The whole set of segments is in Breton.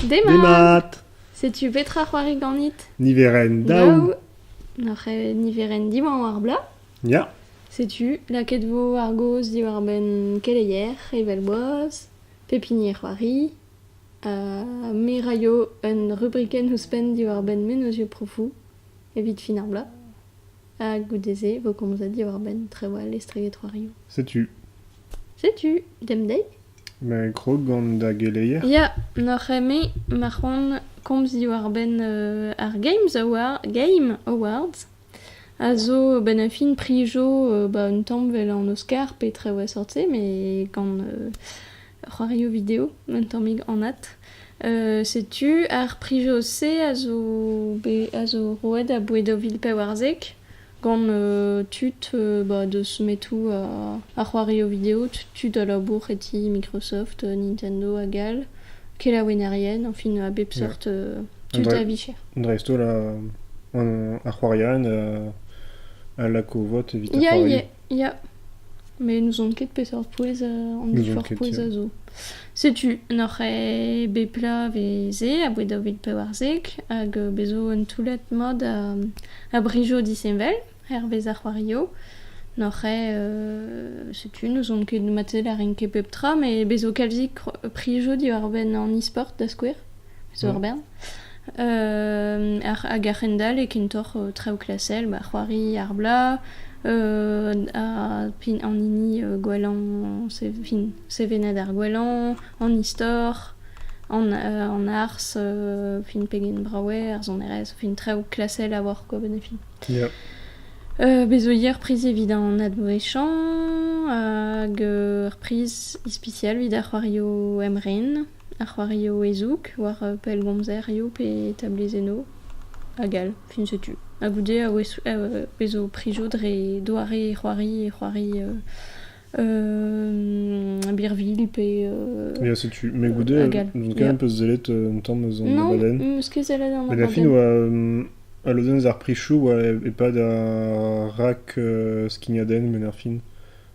Demat! Setu petra c'hoari ganit Niverenn daou. Nac'h eo niverenn diwañ war bla. Ya. Setu lakaet vo ar gaoz diwar-benn keleier, evel-boaz, pep hini e c'hoari. Ha me 'raio un rubrikenn ouzhpenn diwar-benn mennozhioù profoù evit fin ar bloaz. Ha goude-se vo komzet diwar-benn trawal estreget c'hoarioù. Setu. Setu, demp dezhi. Ma eo krog gant da geleier? Ya, n'oc'h eme ma c'hoant komz diwar-benn ar Games Awards, Game Awards, a zo benn-ar-fin prijo ba un tamm 'vel an Oscar petra oa sort-se met gant c'hoarioù video un tammig anat. setu ar prijo-se a zo bet a zo roet a-boued daou vil pevarzek. Gant tud deus metoù ar c'hoarioù video, tud a labour e ti Microsoft, Nintendo hag all, kelaouennerien, enfin a bep seurt tud a vicher. Dreist-holl ar c'hoarierien a lak o vot evit ar c'hoarioù. Ya, met n'ouzon ket peseurt pouez an divhor pouez a zo. Setu, n'oc'h ket bet plat veze aboe daou vil pevarzek hag bez zo un toullad mat a brijoù disheñvel hervez ar c'hoarioù. N'oc'h ket, setu, n'ouzon ket marteze lârin ket pep tra, met bez zo kalzik prijoù diwar-benn an e-sport da skouer. zo ur bern. hag a-hend-all e kentoc'h traoù klasel, ba c'hoari ar blaz, an hini gwellañ, sevenad ar gwellañ, an istor, an arz, pegen brav eo ar sonerezh, traoù klasel a oar quoi benefit. Bez zo ivez ur priz evit an advouezhañ, hag ur priz ispisial evit ar c'hoarioù emren. ar c'hoarioù e-zoug war pellgomzerioù pe tabulennoù hag all fin setu ha goude e zo prizoù dre doare c'hoari e c'hoari birvilh pe Ya, setu. Mais goude, hag all. n'on ket Yeah. un peu sellet euh, un tamm eus an Non, abadenn. mm, eus kezellet an Mais la fin, abadenn. oa, euh, a lodenn eus ar prichoù oa e- e-pad ar rak euh, skignadenn, men ar fin.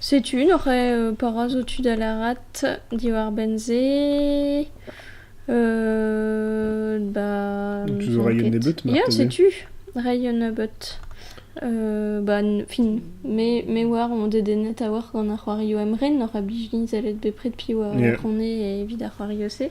Setu hoc'h eus parañ zo tu da lârat diwar-benn se ba... Toujours ray un nebeut marteze? Ya setu ray un nebeut ba fin me me oar on dedennet a-walc'h gant ar c'hoarioù emren oc'h a blij din sellet bepred piv a vronne evit ar c'hoarioù-se.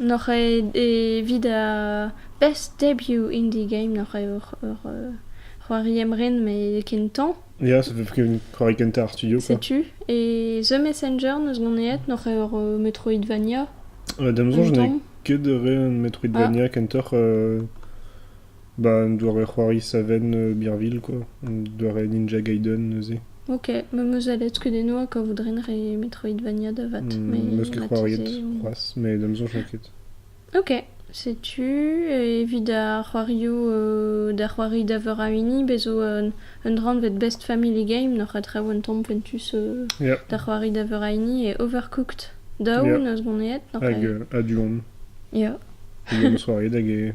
N'oc'h evit ar best debut indie game n'oc'h ket ur c'hoari emren met kentañ. Ya, ça fait qu'un c'hoari kentañ ar studio quoi. Setu, e The Messenger n'eus mont aet n'oc'h ket ur Metroidvania? Da ma soñj n'eo ket re un Metroidvania kentoc'h Bah, un doare-c'hoari savenn Birville, quoi. Un doare Ninja Gaiden, neuze. Ok, ma 'm eus alet kudennoù ha kavout-ren re Metroidvania da vat. Mm, mais M'eus ket c'hoariet marteze- c'hoazh, mais da maison, j'en ket. Ok, setu evit ar c'hoarioù euh, da c'hoari da veur a hini, bez zo un, un dra anvet Best Family Game, n'oc'h a traoù un tamm poentus euh, Yeah, da c'hoari da veur a hini, et Overcooked Down, Yeah. eus boneet, n'oc'h a- Hag euh, Aduon. Ya, Hag am eus c'hoariet hag e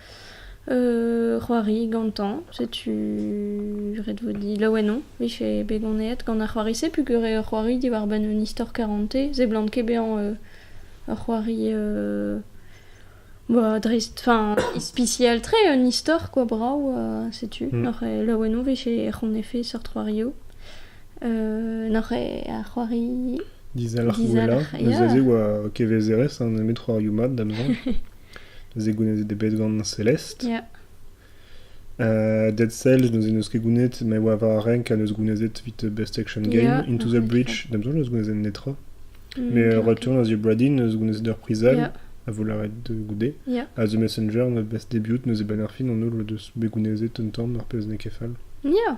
c'hoari gantañ. Setu ret vo dit laouen on 'vije bet ganet gant ar c'hoari-se peogwir eo ur c'hoari diwar-benn un istor karanté. Seblant ket bezañ ur c'hoari dreist, enfin ispisial-tre, un istor kwa brav ha setu. N'oc'h ket laouen on 'vije c'honnefe seurt c'hoarioù. N'oc'h ket ar c'hoari... Dizalc'h, ya. Neus aze oa kevezerezh nemet c'hoarioù mat da neuze. Neuze goulennet eo bet gant Celeste. Yeah. Uh, Dead Cells, neuze n'eus ket gounet, ma oa war ar renk a neus gounezet evit Best Action Game. Yeah, Into the Breach, da besoin eus gounezet netra. Mm. Mais euh, Return of the Obradin, eus gounezet ur prizal, Yeah. a vo lavaret de goude. Yeah. A The Messenger, the best debut, neuze Banner Fin, on eus deus bet gounezet un tamm, ar pezh n'eo ket fall. Yeah.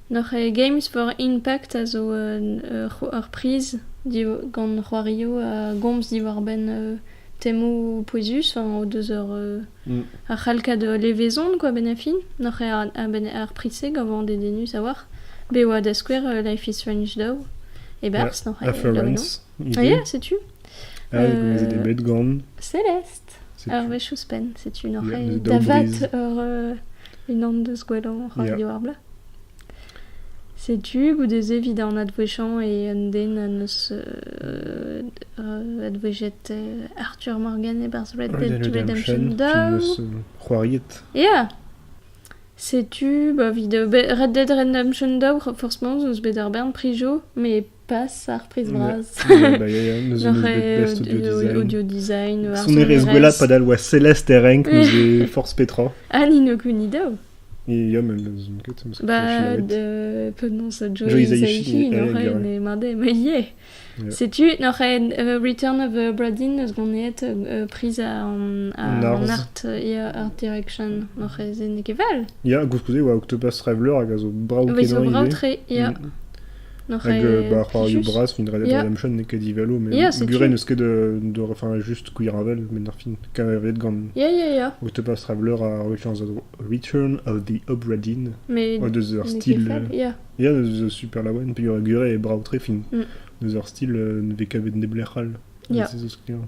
Ar Games for Impact a zo ur priz gant c'hoarioù a gomz diwar-benn temoù pouezus o deus ur c'halkad levezon kwa a-benn ar fin. Ar priz-se gav eo dedennus a-walc'h bet e oa da skouer Life is Strange daou e-barzh. Ya, Setu. Gouezet eo bet gant. Celeste! Ur wech ouzhpenn, setu n'oc'h ket da vat ur unan deus gwellañ radio ar bloaz. Setu goude-se evit an advouezhañ e un den neus advouezhet Arthur Morgan e-barzh Red Dead Redemption 2. c'hoariet. Ya! Setu, ba, 'vit Red Dead Redemption 2, forcement, 'z eus bet ur bern prijoù, met passe ar priz bras. audio design. Sonerezh gwella padal oa Celeste e renk nous e force Petra. An Inokuni daou. Ia, men n'ouzon ket. Bah, de penance a Joe Isaichi, n'oc'hen e made, ma ie. Setu, n'oc'hen uh, Return of uh, Bradin eus goneet uh, priz an art ia art direction n'oc'hen zen ekeval. Ia, gouzkouze oa Octopus Traveler hag a zo brao kenan ivez. Ia, Hag bah, c'hoarioù bras, fin dra la même chaîne n'eo ket divalo, mais gure n'eus ket de, enfin, juste Queerravel, mais ar fin, kavet gant Octopus Traveler a Returns of Return of the Obra-Dinn, oa deus ur stil, ya, deus super laouen, puis gure e brav tre, fin, deus ur stil ne vez kavet neblec'h all, se zo skrivañ.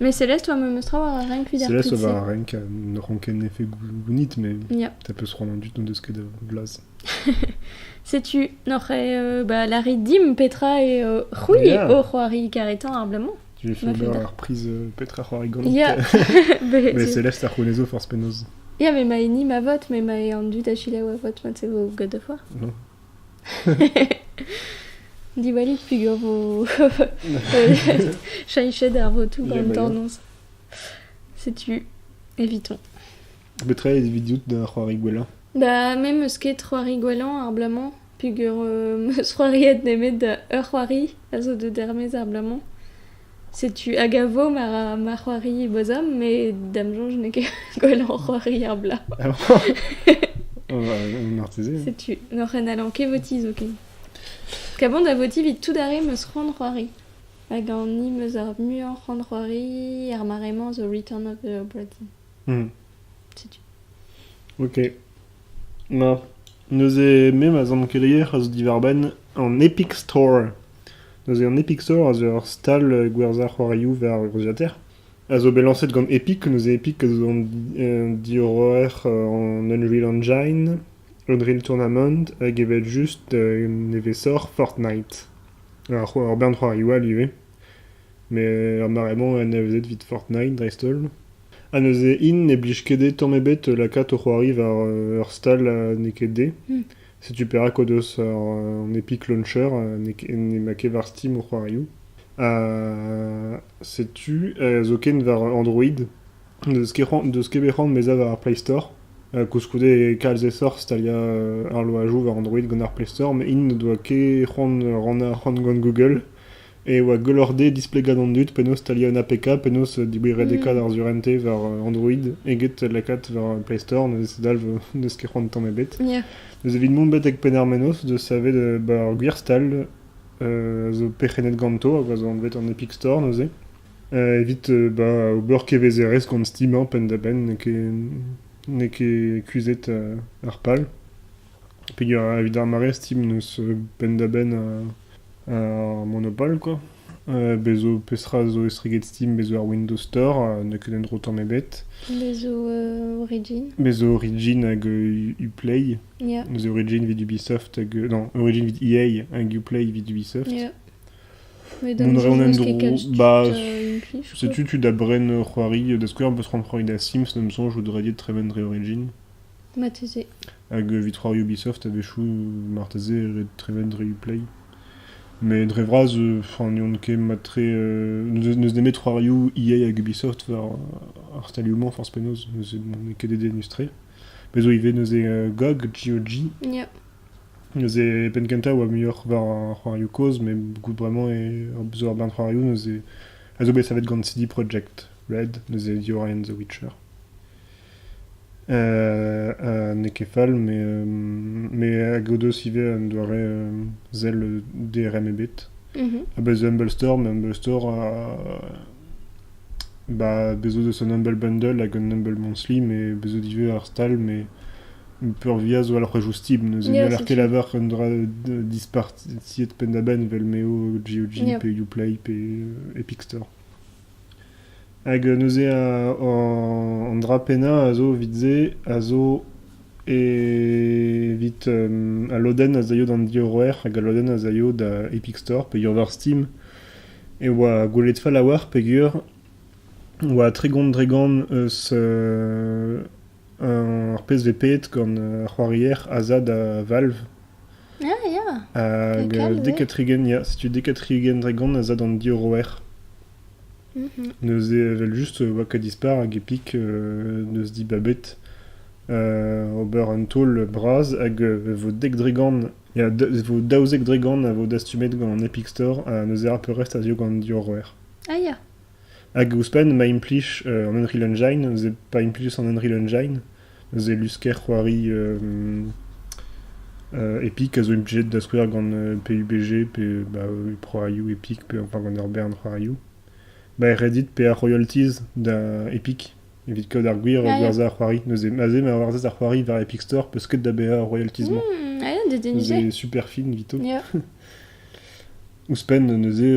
Mais Céleste, oa memestra war ar renk vit ar Céleste tud-se. war ar renk, euh, ne ran ket en effet gounit, mais Ya. ta peut se rendre en dut n'en deus ket da vlas. Setu noc'he euh, bah, lari dim Petra et euh, c'houi Yeah. o c'hoari karetan ar blamo. J'ai fait Ma ober fada. ar prise euh, Petra c'hoari galant. Ya Mais Mais Céleste a c'houenezo forzh penaos. Ya, mais ma hini ma vote, mais ma e an dud a chilaou a vote, ma te vo god of war. Non Diwallit pugur vos chenchet ar votoù gant tornoz. Setu, évitons. Betra eo vidout da c'hoari gwellañ Da me meus ket c'hoari gwellañ ar bloaz-mañ pugur euh, meus c'hoariet nemet ur c'hoari a zo deus dermez ar bloaz-mañ. Setu hag a vo ma ra ma c'hoari bosom, met da'm soñj n'eo ket gwelloc'h c'hoari ar blaz. Marteze. Setu, n'oc'h en allan ket votiñ zoken. Kaban da votiñ evit tout ar re 'm eus c'hoant c'hoari. Hag an hini 'm eus ar muiañ c'hoant c'hoari, ar mare-mañ zo Return of the Obra Dinn. Hmm. Setu. Ok. Na, neuze me ma zant keleier a zo diwar-benn an Epic Store. Neuze an Epic Store a zo ur stal euh, gwerzhañ c'hoarioù war urzhiataer, a zo bet lañset gant Epic. Neuze Epic a zo an di- euh, diorroer euh, an Unreal Engine, Unreal Tournament, hag evel just euh, nevesoc'h Fortnite. Ur, c'ho- ur bern c'hoarioù all ivez. Met ar mare-mañ anavezet evit Fortnite dreist-holl. Ha neuze int ne blij ket dezhe tamm ebet lakaat o c'hoari war ur stal ha n'eo ket dezhe. Setu perak o deus an Epic Launcher n'emañ ket war Steam o c'hoarioù. Ha setu zoken war Android. N'eus ket bet c'hoant bezañ war ar Play Store. Koulskoude kalz aesoc'h staliañ arloajoù war Android gant ar Play Store, met int n'o doa ket c'hoant rannañ ar c'hoant gant Google. e oa gwelloc'h-dezhe displegañ d'an dud penaos staliañ un APK, penaos diwiredekaat ar surentez war Android eget lakaat war Play Store, neuze dalv n'eus ket c'hoant tamm ebet. Yeah. Neuze evit mont betek Penarmennoz de savet euh, bah, ar gwir stal euh, zo perc'hennet ganto hag a zo anvet an Epic Store neuze. Euh, evit euh, bah, ober kevezerezh gant Steam hein, penn-da-benn n'eo ket, n'eo ket kuzhet euh, ar pal. Evit ar mare Steam 'neus penn-da-benn ar Monopole quoi. Bez' zo peseurt zo estreget Steam, bez' zo ar Windows Store, n'eo ket un dro tamm ebet. Bez' zo Origin. Bez' zo Origin hag Uplay. Ya. Neuze Origin evit Ubisoft hag... non, Origin evit EA hag Uplay evit Ubisoft. Ya. Mais donc, Mont a reont un dro. Bah, setu tu da bren c'hoari. Da skouer, on peut se rendre dans Sims, ne me songe, je voudrais dire Treven Origin. Hag evit c'hoari Ubisoft a-wechoù marteze ret trevendreiñ Play. Met dre vras ne on ket mat-tre. N'eus nemet c'hoarioù EA hag Ubisoft war ar stalioù-mañ forzh penaos. N'eo ket dedennus-tre. Bez' zo ivez neuze GOG, G.O.G. Neuze penn kentañ a oa muioc'h war ar c'hoarioù kozh, met goût bremañ zo ur bern c'hoarioù neuze a zo bet savet gant CD Projekt Red, neuze The Orient the Witcher. N'eo ket fall met hag o deus ivez un doare sell DRM ebet. Ha bez' zo Humble Store, met Humble Store ba bez' zo deus un Humble Bundle hag un Humble Monthly met bez' zo ivez ar stal met peurvuiañ zo alc'hwechoù stib neuze n'haller ket lavar un dra dispartiet penn-da-benn evel m'eo GOG pe Uplay pe Epicstore. Hag neuze an dra pennañ a zo evit se a zo evit al lodenn az aio d'an diorroer hag al lodenn az aio da Epic Store peogwir war Steam e oa gwelet fall a-walc'h peogwir e oa tregont-dregont eus Ar pezh 'vez pedet gant ar c'hoarier Asa da Valve. Ah ya! Hag Dekal, ouais. Dekatrigen, ya, setu Dekatrigen Dragon Asa d'an diorroer. Mhm. Neuze evel-just e oa dispar hag Epic euh, neus dibabet euh, ober un taol bras hag euh, vo dek Dregan, ya, da- vo daouzek Dregan a vo dastumet gant Epic Store ha neuze ar peurrest a zio gant diorroer. Ah ya! Hag ouzhpenn ma implij an Unreal Engine, neuze pa implijas an Unreal Engine, neuze lusker c'hoari Epic a zo implijet da skouer gant PUBG pe ba Pro Aryu Epic pe enfin gant ur bern Pro Aryu. Ba Reddit pe ar royalties da Epic evit kaout ar gwir gwerzhañ ar c'hoari. Neuze aze ma gwerzhas ar c'hoari war Epic Store peus ket da baeañ ar royalties-mañ. Mmh, ah ya, da dénicher. Neuze super fin evito. Yeah. Ouzhpenn neuze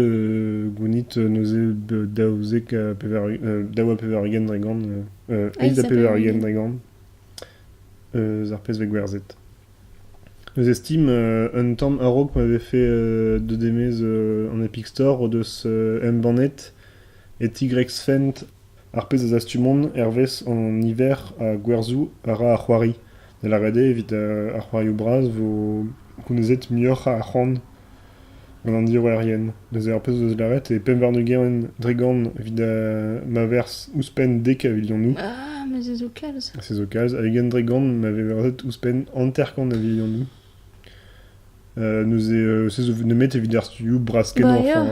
gounit neuze daouzek ha daou ha pevar-ugent dregont eizh ha pevar-ugent dregont eus ar pezhveg gwerzhet. Neuze Steam, un tamm a-raok ma vefe deut e-maez an Epic Store o deus embannet e Tigrex Fent Ar pezh a zastumont hervez hon niver a gwerzhoù a ra ar c'hoari, da lavaret eo evit ar c'hoarioù bras vo gounezet muioc'h a c'hoant gant an diorroerien. Neuze ar pezh o deus lavaret eo pemp warn-ugent dregont evit ma verzh ouzhpenn dek a vilionoù. Ah, me 'zezo kalz. Se zo kalz, hag ugent dregont ma vez verzet ouzhpenn hanter-kant a vilionoù. Neuze se zo nemet evit ar studioù bras-kenañ, enfin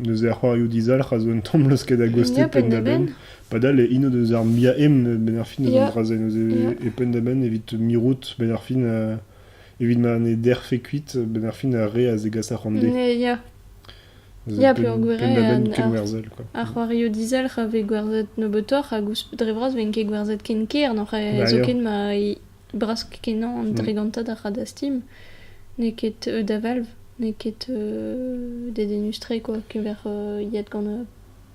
neuze ar c'hoarioù dizalc'h a zo un tamm laosket a-gostez penn-da-benn. Padal int o deus ar muiañ-emp benn ar fin eus an dra-se, neuze e penn-da-benn evit mirout benn ar fin evit ma ne derfe kuit benn ar fin ar re a zegas ar c'hoant dezhe. Ya, peogwir eo ar c'hoarioù dizalc'h a vez gwerzhet nebeutoc'h hag ouzhpenn dre vras 'vent ket gwerzhet ken ker, zoken ma Brask-kenañ an dregantad a ra da Steam. N'eo ket da Valve, n'eo ket dedennus-tre quoi, keñver yet gant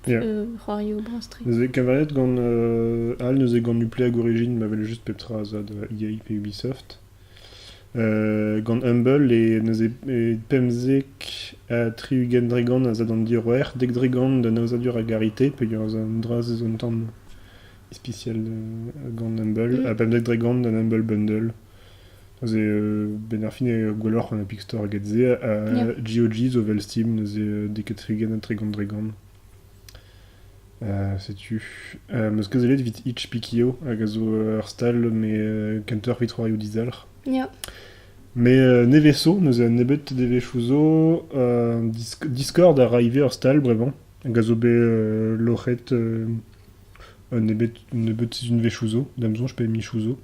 c'hoarioù bras-tre. Neuze keñveriet gant all, neuze gant Uplay hag Origin ma wel just pep tra a zad EA pe Ubisoft. gant Humble e neuze pemzek ha tri-ugent dregant a zad an diroer, dek dregant d'an aozadur a garite, peogwir ez a un dra eus an tamm ispisial gant an bugel, ha pemdek dre gant an Humble Bundle. Neuze, ben ar fin eo gwelloc'h an Epic Store eget se, ha yeah. GOG zo vel Steam, neuze deket trigen ha tregont dregont. Uh, setu. Uh, meus kazelet evit Itch Pikio, hag a zo ur stal me uh, counterfeit c'hoarioù dizalc'h. Yeah. Me uh, neveso, neuze un nebet devechou zo, uh, Discord a ra ivez ur stal brevan, hag a zo bet uh, loc'het uh, Un nebeud sizhunvezhioù zo, da'm soñj, pe mizoù zo.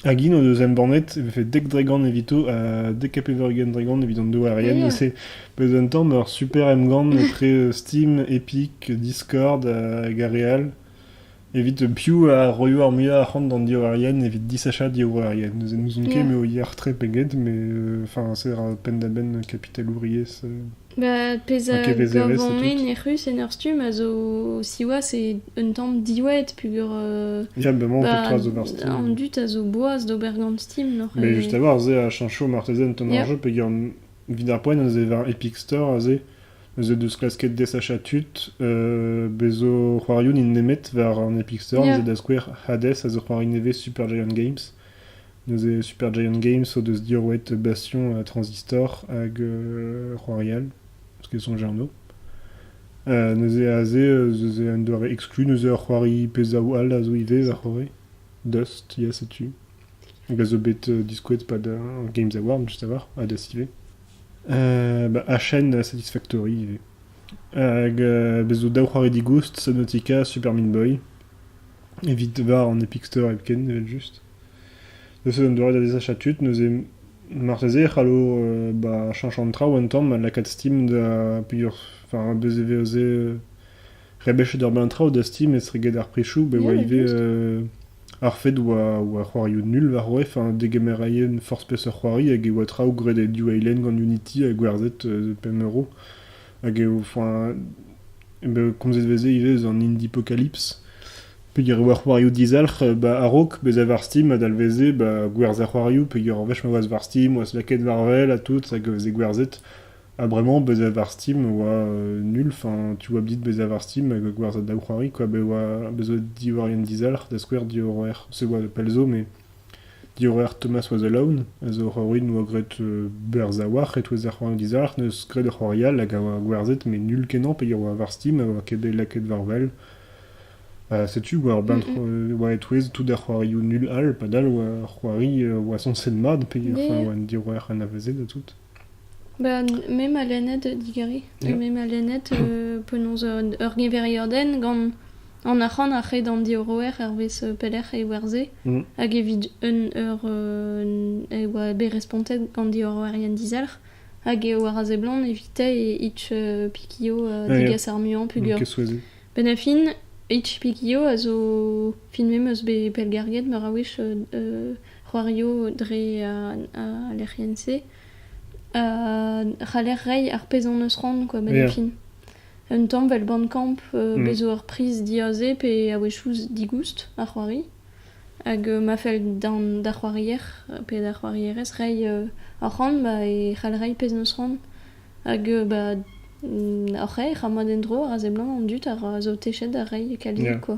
Hag int o deus embannet e vefe dek dregont evito ha dek ha pevar-ugent dregont evit an douarien. E se pezh un tamm ur super emgann etre Steam, Epic, Discord hag ar re all evit piv a roio ar muiañ arc'hant d'an diorrerien evit disachañ diorrerien. N'ouzon ket m'eo yac'h-tre pe get, mais enfin, c'est penn-da-benn kapitalouriezh. Bah, pezh a gav anezhi nec'hus en ur stumm a zo, siwazh, eo un tamm diwaet peogwir... euh, Ya, bah, mañ, bah, pep zober Steam. An dud a zo boaz d'ober gant Steam, n'oc'h Mais juste avoir, c'est à chancho martezen ton Yeah. argent, pegan vit ar poen eus var Epic Store, aze, eus deus klasket desacha tud, euh, bezo c'hoarioun in nemet var an Epic Store, Yeah. ez da skouer Hades, a zo c'hoari nevez Super Giant Games, Neuze Super Giant Games o deus diorroet Bastion Transistor hag Royal, parce qu'ils sont germains. Uh, neuze aze ez eo un doare exclu, neuze ur c'hoari pezh zaou all a zo ivez a c'hoari. Dust, ya, setu. Hag a zo bet uh, diskouet pad uh, Games Award, juste avoir, à Dust ivez. Uh, bah, HN Satisfactory ivez. Hag uh, bez zo daou c'hoari digoust, Subnautica, Super Meat Boy. Evit war an Epic Store hepken, evel-just. Neuze, un doare da desachañ tud, neuze marteze e c'hallo ba chañch an traoù un tamm, lakaat Steam da peogwir enfin bez e veze rebechet ur bern traoù da Steam etre get ar prizoù bet oa ivez ar fed oa oa c'hoarioù nul war o enfin degemerailhenn forzh peseurt c'hoari hag e oa traoù graet e New Island gant Unity ha gwerzhet pemp euro. hag eo enfin eo bet komzet 'veze ivez eus an Indie-Apocalypse peogwir e oa c'hoarioù dizalc'h ba a-raok bezañ war Steam a dalveze ba gwerzhañ c'hoarioù peogwir ur wech ma oas war Steam oas lakaet war wel ha tout hag e veze gwerzhet ha bremañ bezañ war Steam oa nul enfin tu oa dit bezañ war Steam hag gwerzhañ daou c'hoari kwa bet oa bet zo diorren dizalc'h da skouer diorroer se oa pell zo mais Diorroer Thomas was Alone a zo ur c'horrwin a oa graet berr-zaouarn e-touez ar c'hoant dizalc'h en deus graet ur c'hoari all hag a oa gwerzhet met null kenañ peger oa war Steam ha oa ket bet lakaet war wel. Ha setu war benn oa e-touez tout ar c'hoarioù null all padal oa c'hoari oa sañset mat peger oa an diorroer anavezet ha tout. Ba me 'ma lennet digeri, me 'ma lennet penaos ur geveriadenn gant an arc'hant a-hed an diorroer hervez pelec'h e werzhe hag evit un eur e oa bet respontet gant diorroerien dizalc'h hag eo war a seblant evitañ e Itch-Piquio digas ar muiañ pugur. Benn ar fin, Itch-Piquio a zo filmet 'm eus bet pellgarget meur a wech c'hoarioù dre al lec'hienn-se a c'haller reiñ ar pezh hon eus c'hoant quoi benn fin un tamm 'vel bandcamp bez 'zo ur priz diaze pe a-wechoù digoust ar c'hoari hag ma fell d'ar c'hoarier pe d'ar c'hoarierez reiñ hor c'hoant ba e c'hall reiñ pezh 'neus c'hoant hag ba hor c'haer ha mont en-dro a ra seblant an dud a ra zo techet da reiñ e kaligoù quoi.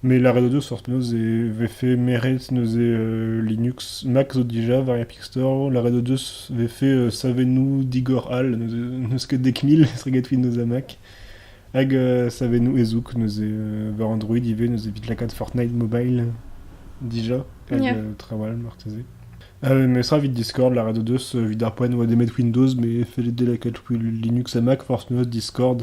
Met lâret eo seurt neuze e vefe meret neuze Linux. Mac zo dija war Epic Store. Lâret o deus e vefe savennoù digor all. N'eus ket dek mil estregetwit neuze ha Mac. Hag savennoù ezoug neuze war Android ivez neuze evit lakaat Fortnite Mobile dija. Hag trawal marteze. Memestra evit Discord, lâret o deus evit ar poent e oa demet Windows, mais fellet eo lakaat Linux ha Mac, forc'h neuze Discord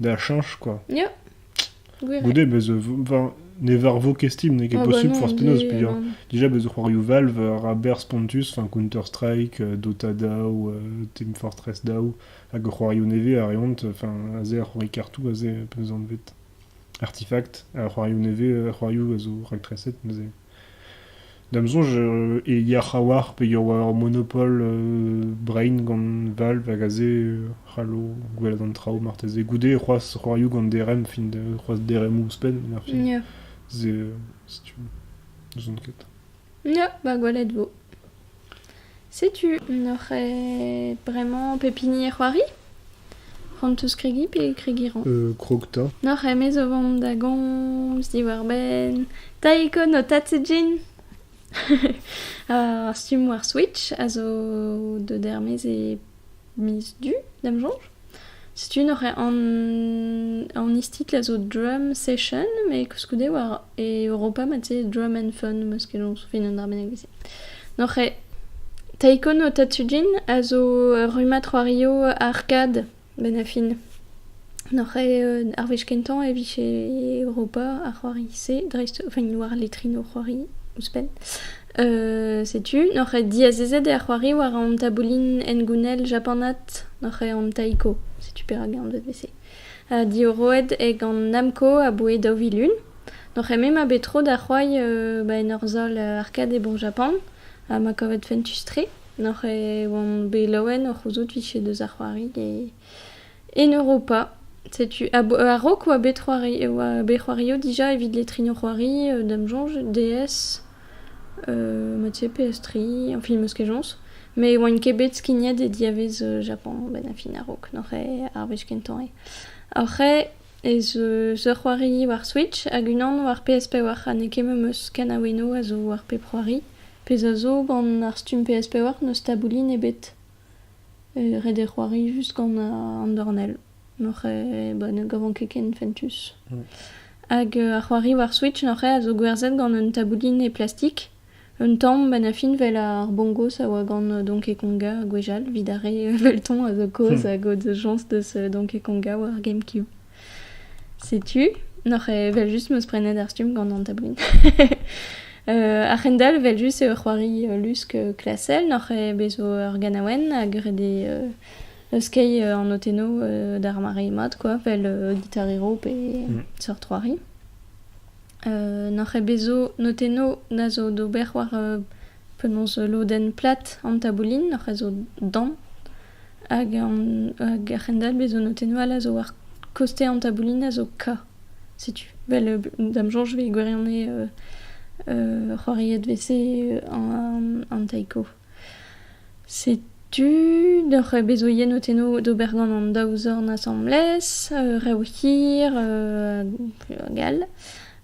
da cheñch quoi. Ya, gwir. Goude bez ne varvo kestim n'eo ket ah, bah posubl forzh penaos peogwir déjà bez c'hoarioù Valve Raber Spontus enfin Counter-Strike euh, Dota Dao euh, Team Fortress Dao hag c'hoarioù nevez a reont enfin a ze ar c'hoari kartoù a ze penaos anvet Artifact a c'hoarioù nevez euh, a c'hoarioù a zo raktres neuze Da'm soñj e yac'h a-walc'h pe e oa ur monopol brein gant Valve hag aze c'hallo gwelet an traoù marteze. Goude c'hoazh c'hoarioù gant DRM fin c'hoazh DRM ouzhpenn erfin. Ya. Se setu n'ouzon ket. Ya, ba gwelet 'vo. Setu n'oc'h ket bremañ pep hini e c'hoari? C'hoant 'teus kregiñ pe kregiñ 'rañ? krog 'ta. N'oc'h ket mez o vont da gomz diwar-benn taekwondo ho tad-se Jean? Ar stummoù ar Switch a zo deut er-maez e miz du, d'am soñj. Setu nor eo an, an istitl a zo drum session, met koulskoude war e Europa mat-se drum and fun, meus ket soñj fin an arbennig veze. Nor eo Taekwondo Tatsujin a zo rummad c'hoario arkad benn ar fin. Nor eo ar wech kentañ e vije Europa ar c'hoari-se, dreist, enfin war letrino c'hoari ouzhpenn. setu noc'h eo diazezet er c'hoari war an taboulin hengounel japanat noc'h eo an taiko setu perak anvet vese diorroet eo gant namco aboe daou vil un noc'h eo me ma bet tro da c'hoari ba en ur sal arkade bon japan ha ma kavet fentus tre noc'h eo oan bet laouen o c'houzout 'vije deus ar c'hoari e En Europa, setu a-raok oa bet c'hoari e oa bet c'hoario dija evit letrino c'hoari, euh, Dame Jange, DS, euh, Mathieu PS3, enfin meus ket jañs. Me oaint ket bet skignet e diavez euh, Japan benn ar fin a-raok, n'oc'h eo ar wech kentañ eo. Oc'h eo ez eus ur c'hoari war Switch hag unan war PS5 oac'h ha n'eo ket memes kanaouennoù a zo war pep c'hoari, pezh a zo gant ar stumm PS5 oac'h n'eus taboulin ebet. Ret eo c'hoari just gant an dornell, n'oc'h eo ne gavan ket ken fentus. Hag ar c'hoari war Switch n'oc'h eo a zo gwerzhet gant un taboulin e plastik, un tamm 'benn ar fin 'vel ar bongos a oa gant Donkey Konga gwechall, 'vit ar re 'veltomp a zo kaoz a gaoz jañs deus Donkey Konga war GameCube. Setu, n'oc'h evel-just meus prenet ar stumm gant an tablin. uh, A-hendall, vel-just eo c'hoari lusk klasel, n'oc'h bezo ur ganaouenn hag ret eo skeiñ an notennoù d'ar mare mat, quoi, vel gitarero pe mm. seurt c'hoari. Uh, n'oc'h bezo notennoù na zo d'ober war uh, penaos lodenn plat an taboulin, n'oc'h a zo damm. Hag ar c'hendalc'h-bez zo notennoù all a zo war kostañ an taboulin a zo Ka, setu. Vel da'm soñj 'vez gwirione c'hoariet 'vese an taiko. Setu deoc'h bez 'zo ivez notennoù d'ober gant an daou zorn asambles, rev hir hag all.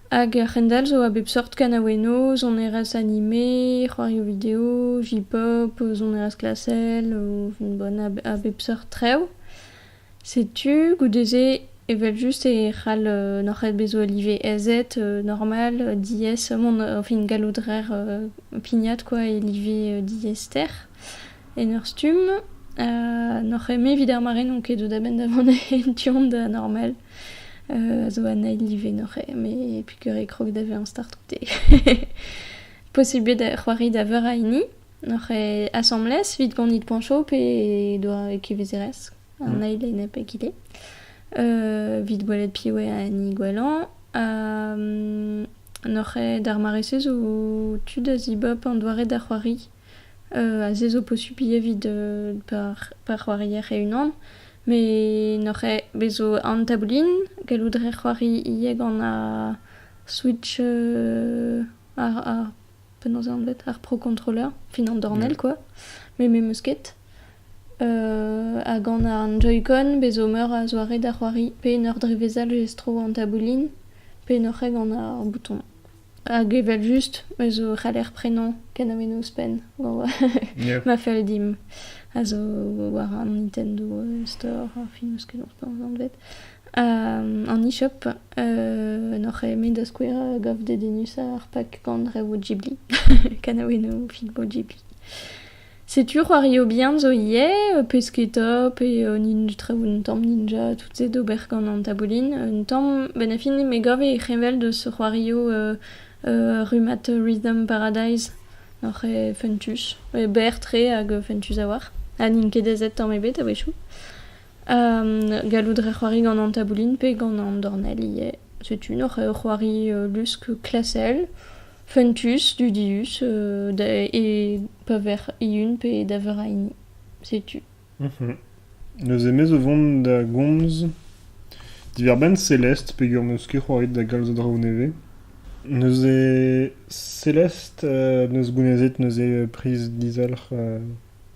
Hag ar c'hendalc'h zo a bep seurt kanaouennoù, sonerezh anime, c'hoarioù video, J-pop, sonerezh klasel, bon, a bep seurt traoù. Setu goude-se evel-just e c'hall n'oc'h ket bezañ live ezed normal diaes mont enfin gallout rer pignat quoi e live diaester en ur stumm. Ha n'oc'h ket-me evit ar mare n'on ket deuet a-benn da vont en tu-hont da normal. a zo an eil live noc'h me pikur e krog da vezañ start outé. Posible da c'hoari da veur a hini noc'h asambles evit gonit poñcho pe doa e kevezerez an eil e nep egile. Evit gwelet piv eo an hini gwellañ. Ha noc'h d'ar mare-se zo tu da zibob an doare da c'hoari. se zo posupl evit pa c'hoarier e-unan met n'oc'h ket bez' zo an taboulin gallout a rez c'hoari ivez gant ar switch ar penaos eo anvet ar pro controller fin an dornell kwa met me 'meus ket ha gant an joy-con bez' zo meur a zoare da c'hoari pe en ur drevezal lestr an taboulin pe n'oc'h ket gant ar bouton Hag evel-just ez zo c'haller prenañ kanamennoù ouzhpenn ma fell dimp a zo war an Nintendo Store ar film eus kenañ anvet an e-shop n'oc'h eme da skouer gav dedennusañ ar pak gant rev Ghibli kanamennoù film Ghibli. Setu c'hoario bihan zo ivez, pesketa pe nin- traoù un tamm ninja, tout se d'ober gant an taboulin. Un tamm, benn ar fin me gav e c'heñvel deus c'hoario rummad Rhythm Paradise, oc'h eo fentus, berr-tre hag fentus a-walc'h, ha n'int ket aezet tamm ebet a-wechoù. Gallout rez c'hoari gant an taboulin pe gant an dornell ivez. Setu n'oc'h ket c'hoari lusk klasel, fentus, dudius e pa vec'h eeun pe da veur a hini. Setu. Neuze me zo vont da gomz diwar-benn Céleste peogwir m'eus ket c'hoaret da galz a draoù nevez. Neuze Céleste 'neus gounezet neuze priz dizalc'h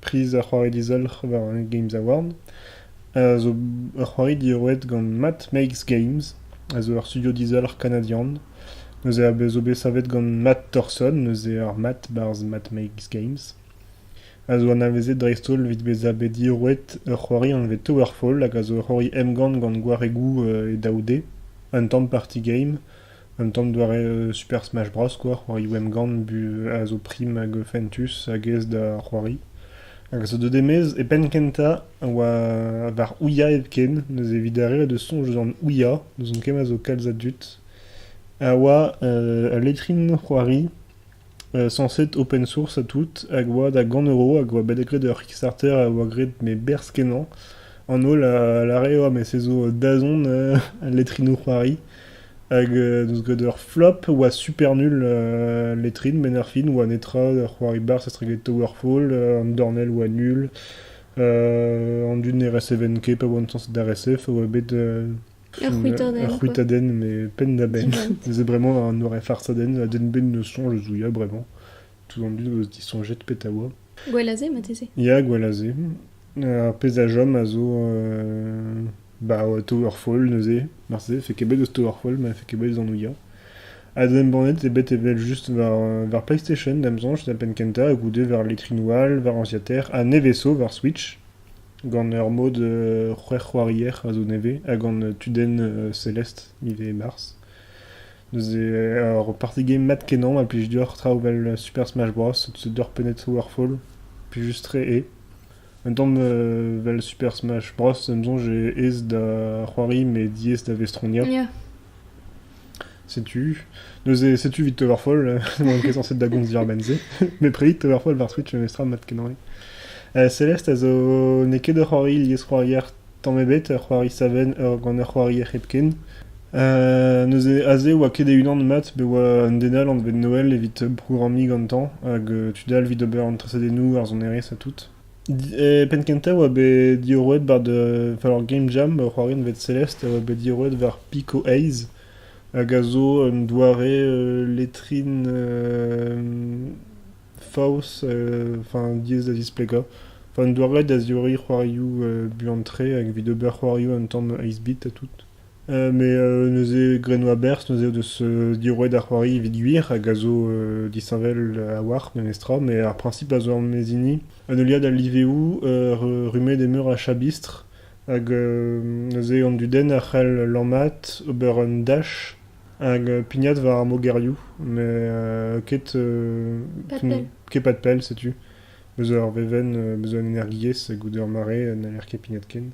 Priz ar c'hoari dizalc'h war Hunger Games Award a zo ur c'hoari roet gant Matt Makes Games, a zo ur studio dizalc'h kanadian. Neuze a zo bet savet gant Matt Thorson, neuze ar Matt barzh Matt Makes Games, a zo anavezet dreist-holl evit bezañ bet diroet ur c'hoari anvet Towerfall hag a zo ur c'hoari emgann gant gwaregoù e daou D, un tamm party game. Un tamm doare Super Smash Bros quoi, c'hoarioù emgann a zo prim hag fentus hag aes da c'hoari. Hag a zo deuet e-maez e penn-kentañ a oa war Ouya hepken, neuze evit arrêt da soñj eus an Ouya, n'ouzon ket ma zo kalz a dud, a oa ul letrin c'hoari Sañset open source ha tout, hag oa da gant euro hag oa bet graet ur Kickstarter a oa graet me berzh-kenañ. An holl a lâre oa me se zo dazont al letrinoù-c'hoari. Hag n'eus graet ur flop, oa super nul letrin met erfin oa netra, ur c'hoari barzh estreget Towerfall, an dornell oa nul, an dud ne recevaent ket pa oant sañset da recef a oa bet Ur c'hwitadenn met penn-da-benn. Neuze bremañ un orin farsadenn a denn da soñj eus Ouya bremañ. Tout an dud o deus disoñjet pet a oa. Gwallazé marteze Ya, Gwallazé. Ar pezh a chom a zo euh, bah, Towerfall neuze. Marteze e fait ket bet eus Towerfall, ma e fait ket bet eus an Ouya. Ha da embannet eo bet evel just war, euh, war PlayStation, da'm soñj, da penn kentañ, goude war letrinoù all, war anciater, ha nevez 'zo war Switch. Gant ur mod c'hwec'hc'hoarier a zo nevez ha gant tudenn Celeste, miz Mars. Neuze ur party game mat-kenañ ma plij deoc'h traoù 'vel Super Smash Bros, The Darknet Towerfall, plijus-tre eo. Un tamm 'vel Super Smash Bros, em soñj eo aes da c'hoari met diaes da vestroniañ. Setu, neuze, setu evit Towerfall, n'on ket censé da gomz diàr-benn-se, met prerit Towerfall war Twitch memestra mat kenañ. Uh, Celeste a zo... n'eo ket ur c'hoari liesc'hoarier tamm ebet, ur c'hoari savenn ur, gant ur c'hoarier hepken. Uh, neuze, aze oa ket e-unan mat, bet oa un den all anvet Noël evit programmiñ gantañ, hag uh, tud all evit ober an tresadennoù, ar sonerezh ha tout. Penn-kentañ e oa bet diorroet war ur game jam, ur c'hoarienn bet Celeste, a oa bet diorroet war Pico Ace, hag a zo un doare letrin faos, enfin diaes da zisplegañ. Enfin un doare da ziorriñ c'hoarioù buan-tre, evit ober c'hoarioù un tamm aes-bit ha tout. Met neuze grenoù a-berzh neuze o deus diorroet ar c'hoari evit gwir hag a zo disheñvel a-walc'h memestra. Met ar priñsip a zo er-maez hini, un heuliad a liveoù rummet e meur a chabistr hag neuze an dudenn a c'hell lammat, ober un dach hag pignat war ar mogerioù met ket ket pad pell setu. Bezañ ur vevenn, bezañ un energiezh goude ur mare n'haller ket pignat ken.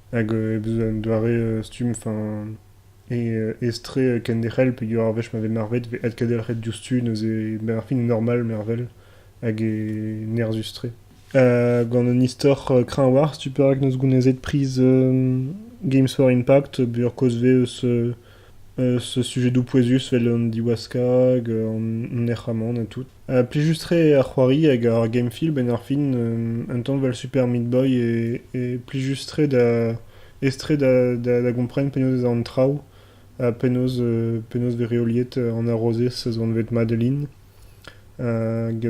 hag heb un doare stumm, enfin estrae kenderc'hel peogwir ar wech ma vez marvet e vez adkendelc'het diouzhtu neuze benn ar fin e normal mervel hag e nerzhus-tre. Gant un istor kreñvoc'h, tu perak 'neus gounezet priz Games for Impact peogwir kozh 'vez eus sujedoù pouezus 'vel an diwaskañ hag an nec'hamant ha tout. Ha plijus-tre eo ar c'hoari hag ar game-film en ar fin, un tanval Super Meat Boy eo plijus-tre da aes-tre da gompren penaos ez a an traoù ha penaos penaos 'vez reoliet an harozez a zo anvet Madeline.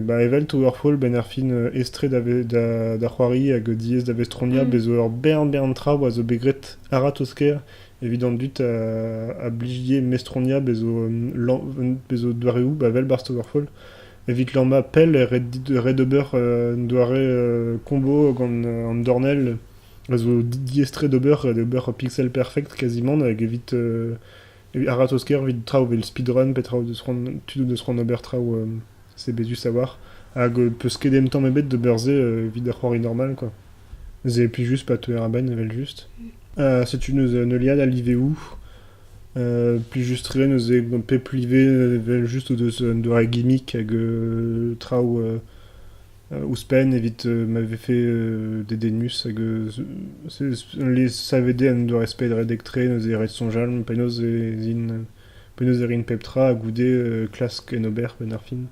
Ba evel to ur fol benn ar fin aestre da c'hoari hag diaes da vestroniañ bez' zo ur bern bern traoù a zo bet graet a-ratozh-kaer evit an dud a blije mestroniañ bez' zo bez' zo doareoù ba evel barzh To ur fol evit lammañ pell e ret ober un doare combo gant an dornell a zo diaestre d'ober, d'ober pixel perfect kazimant hag evit Evit a-ratozh-kaer evit traoù evel speedrun pe traoù deus c'hoant tudoù deus c'hoant ober traoù sebezus a-walc'h hag peus ket ken tamm ebet d'ober se evit ur c'hoari normal kwa. Se plijus pa teuer a-benn evel-just. setu neuze un heuliad a liveoù plijus-tre neuze gant pep live evel-just o deus un doare gimmick hag traoù Ouzhpenn evit ma vefe dedennus hag le savede an doare-sped redek-tre neuze ret soñjal penaos ez int penaos e rint pep tra ha goude klask en ober penn ar fin.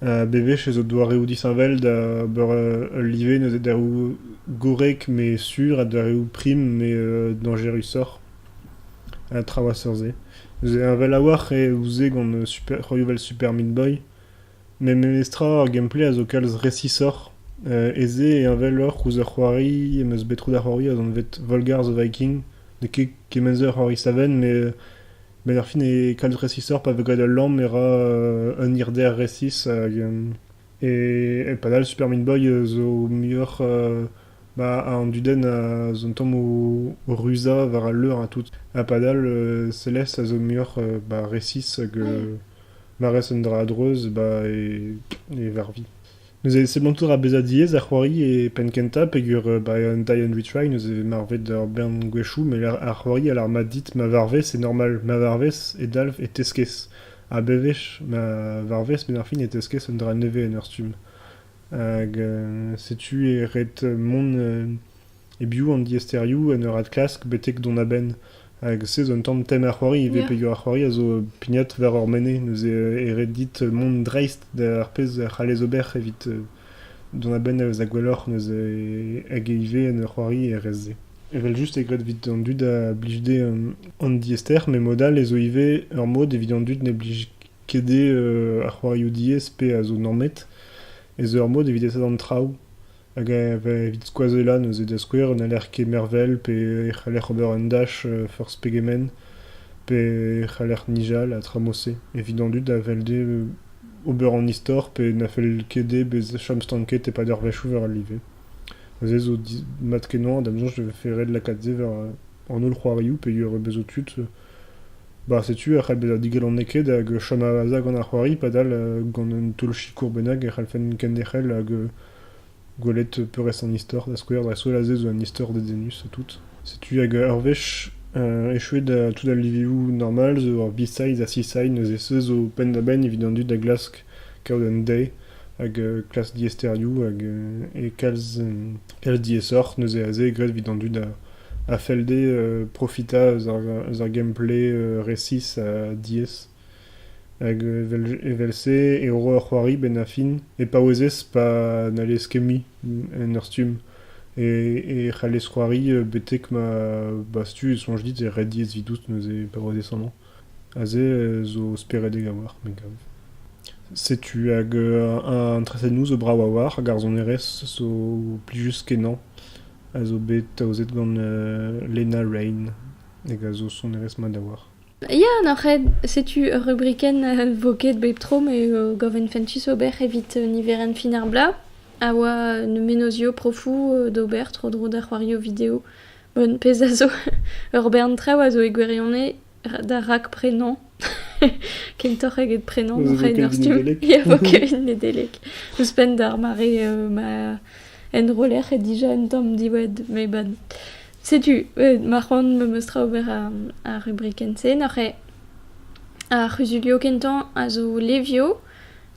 Bewech ez eo doareoù disheñvel da ober ul live neuze daroù gorrek met sur ha doareoù prim met dañjerusoc'h. Traoù a-seurt-se. Neuze heñvel a-walc'h eo ouzh se gant c'hoarioù 'vel Super Meat Boy. Met memestra ar gameplay a zo kalz resisoc'h. E-se e heñveloc'h ouzh ur c'hoari em eus bet tro da c'hoari, az on bet Volgar the Viking. N'eo ket kement-se ur c'hoari savenn, met ar fin eo kalz resisoc'h pa vez graet ul lamm e ra un hirder resis. E padal Super Meat Boy zo muioc'h an dudenn a zo un tamm o ruzañ war al leur ha tout. Ha padal Celeste a zo muioc'h resis hag ma rez un dra a-dreuz ba e varvi. Neuze seblantout ra bezañ diaes ar c'hoari e penn-kentañ peger ba un die and we try neuze marvet ur bern gwechoù met ar c'hoari a lar mat dit ma varvez e normal, ma varvez e dalv e teskez ha bewech ma varvez benn ar fin e teskez un dra nevez en ur stumm. Hag setu e ret mont E-biou an diaesterioù en ur adklask betek dont a-benn hag sez un tamm tem ar c'hoari ivez peger ar c'hoari a zo pignat war hor mene neuze e ret dit mont dreist d'ar pezh a c'hallez ober evit dont a-benn eus da gwelloc'h neuze hag ivez en ur c'hoari er re-se. Evel-just eo graet evit an dud a blij dezhe an diaester met mod all ez zo ivez ur mod evit an dud ne blij ket dezhe ar c'hoarioù diaes pe a zo normet ez eo ur mod evit aesat an traoù. hag evit skoazellañ neuze da skouer n'haller ket mervel pe e c'haller ober un dach forzh pegement pe e c'haller nijal ha tramoù-se evit an dud a fell dezhe ober an istor pe na fell ket dezhe bezañ chom stanket e-pad ur wechoù war al live. Neuze zo mat-kenañ da'm soñj e vefe ret lakaat se war an holl c'hoarioù peogwir bez' zo tud ba setu e c'hell bezañ digalonek ket hag chom a-vazh gant ar c'hoari padal gant un taol-sikour bennak e c'hallfen kenderc'hel hag Gwelet peurrest an istor, da skouer da skouer aze zo un istor dedennus ha tout. Setu hag ur wech echuet tout al livioù normal zo ur B-side ha C-side neuze se zo penn-da-benn evit an dud da glask kaout un deiz hag klask diaesterioù hag e kalz kalz diaesoc'h neuze aze graet evit an dud a fell dezhe profitañ eus ar gameplay resis ha diaes. Hag evel-se e ro ur c'hoari benn ar fin, e paouezez pa n'hallez ket mui en ur stumm, e c'hallez c'hoari betek ma ba stumm e soñj dit e ret diaes evidout neuze paouezez amañ. Aze zo speredek a-walc'h me gav. Setu hag an tresadennoù zo brav a-walc'h, hag ar sonerezh zo plijus-kenañ a zo bet aozet gant Lena Raine hag a zo sonerezh mat a-walc'h. Ya, n'oc'h ket. Setu ur rubrikenn vo ket bep tro me gaven fentus ober evit niverenn fin ar bloaz a oa mennozhioù profoù d'ober tro-dro da c'hoarioù video. Bon, pezh a zo, ur bern traoù a zo e gwirionez da rakprenañ. Kentoc'h eget prenañ, ma raen ar stumm. Ya, vo Kevin Nedeleg. Ouzhpenn d'ar mare ma enroller dija un tamm diwad, met bon. Setu, euh, ma c'hoant me meus tra ober ar, ar rubrikenn-se. Noc'he ar c'huzulio kentañ a zo Levio.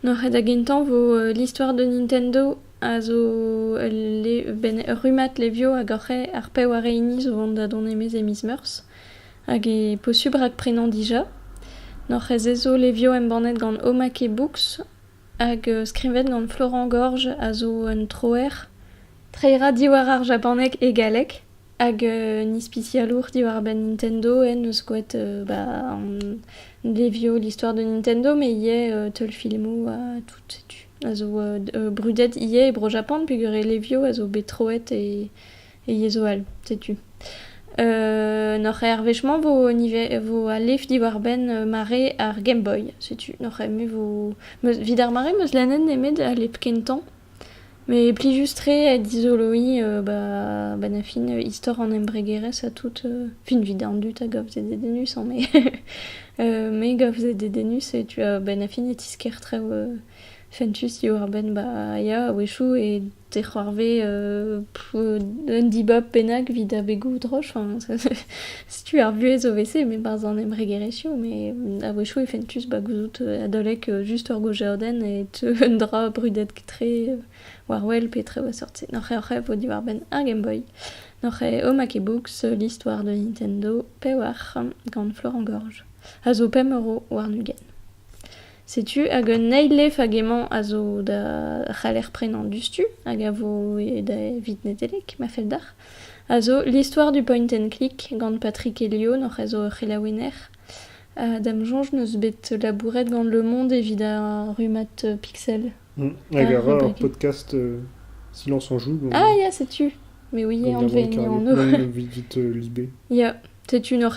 Noc'he da gentañ vo euh, l'histoire de Nintendo a zo ul le- ben, ur rummad Levio hag oc'he ar pev ha re hini zo vont da dont e-maez e miz Meurzh. Hag e posubl rakprenañ dija. Noc'he se zo Levio embannet gant Omake Books Hag skrivet gant Florent Gorge a zo un troer, treiera diwar ar japaneg e galleg, hag un ispisialour diwar-benn Nintendo en deus skoet ba an levioù l'histoire de Nintendo met ivez teulfilmoù ha tout setu. A zo brudet ivez e Bro-Japan peogwir e levioù a zo bet troet e e yezho all, setu. Noc'h er wech-mañ vo niver vo al lef diwar-benn mare ar Game Boy. Setu noc'h eme vo meus evit ar mare meus lennet nemet al lep kentañ. Met plijus-tre eo dizoloiñ ba benn-ar-fin istor an embregerezh ha tout. Fin evit an dud a gav se dedennus met me gav se dedennus setu benn-ar-fin e tisker traoù fentus diwar-benn ba ya a-wechoù e Te c'hoarvez un dibab bennak evit abegoù-droch. Enfin, setu ar vuhez o vese, met barzh an embregerezhioù. Met a-wechoù e fentus ba gouzout adalek just ur gaozeadenn e teu un dra brudet-tre war wel pe tre war seurt se. N'oc'h oc'h vo diwar-benn ar Game Boy, n'oc'h Home Box, l'histoire de Nintendo, pewac'h gant Florent Gorge, a zo pemp euro warn-ugent. Setu hag un eil lef hag emañ a zo da c'haller prenañ diouzhtu hag a vo evit Nedeleg ma fell deoc'h a zo L'histoire du point and click gant Patrick Elion hoc'h eus hor c'helaouenner. Da'm soñj n'eus bet labouret gant Le Monde evit ar rummad Pixel. Hag a ra ur podcast Silence on joue gant... Ah ya setu! Me ouie anvet en anv. Gant Lisbeth Lisbé. Ya. Setu ur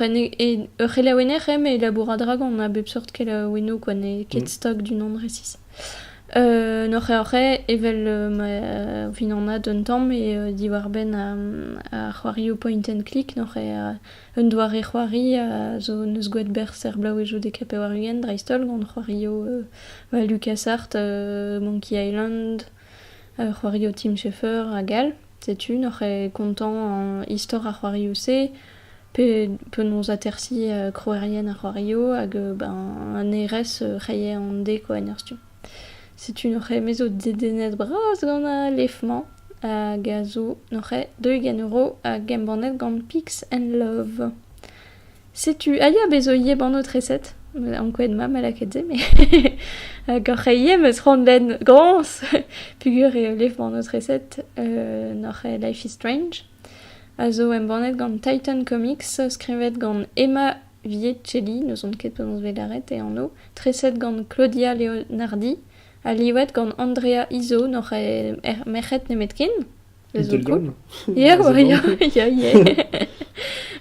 c'helaouenner eo met labour a-dragon a bep seurt kelaouennoù kwa n'eo ket stok d'unan resis. N oc'h eo evel ma fin anat un tamm eo diwar-benn ar c'hoarioù point and click n oc'h eo un doare c'hoari a zo n'eus gwall berzh er blaouezhoù-dekañ pevar-ugent dreist-holl gant c'hoarioù ba LucasArts, Monkey Island, c'hoarioù Tim Schafer hag all. Setu n'oc'h ket kontañ istor ar c'hoarioù-se, penaos atersiñ krouerien ar c'hoarioù hag an hêrezh reier an deko en ur stumm. Setu n'oc'h ket, me zo dedennet bras gant al lef-mañ hag a zo n'oc'h ket, deuit gant euro hag embannet gant Pigs and Love. Setu Aya bezo ivez banno treset. Ankouaet mat ma lakaet se, met hag oc'h ivez meus c'hoant benn groñs peogwir eo lev banno treset euh, n'oc'h Life is Strange, a zo embannet gant Titan Comics, skrivet gant Emma Vietcelli, n'ouzon ket penaos bet lâret e anv, treset gant Claudia Leonardi, ha livet gant Andrea Izo, n'oc'h merc'hed nemetken. Italian Ia, Aurelien, ia, ie.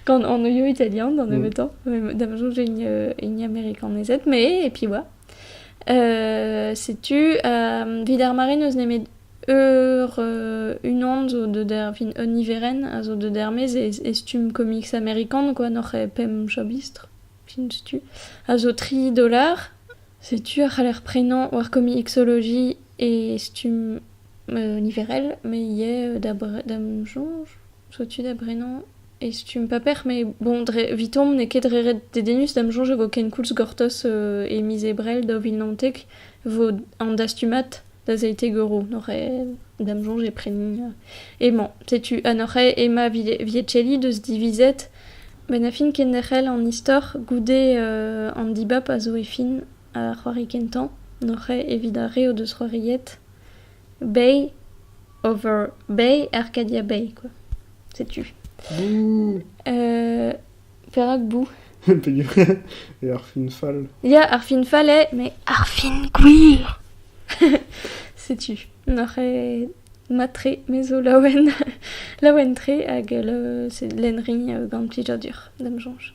Gant anvioù italian d'an mm. nemetañ, da soñj hini amerikanezed, mais et puis voilà. Euh, setu, euh, vid ar mare n'eus nemet eur euh, unan zo de der, fin, un niverenn a zo de dermez e, stumm comics amerikan, quoi, n'oc'h e pemp chabistr, fin tu, a zo tri dolar. Setu a c'haller prenañ war comicsology e stumm niverel, me ivez da'm soñj, soñj da brenañ e stumm paper met bon dre evitomp n'eo ket dre ret dedennus da'm soñj e vo kenkoulz gortoz e miz Ebrel daou vil naontek vo an dastumad da Seitegoro n'oc'h da'm soñj e prenin emañ. Setu ha n'oc'h ema Viacelli deus divizet bennafi kenderc'hel an istor goude an dibab a zo e fin ar c'hoari kentañ n'oc'h evit ar re o deus c'hoariet. Bay over Bay, Arcadia Bay, quoi. Sais-tu Bouh euh, Perak bou Et Arfin Fall. Ya, Arfin Fall est, mais Arfin queer Sais-tu Noc'h eo matre mezo laouen laouen tre hag euh, c'est l'enrin euh, gant plijadur da'm soñj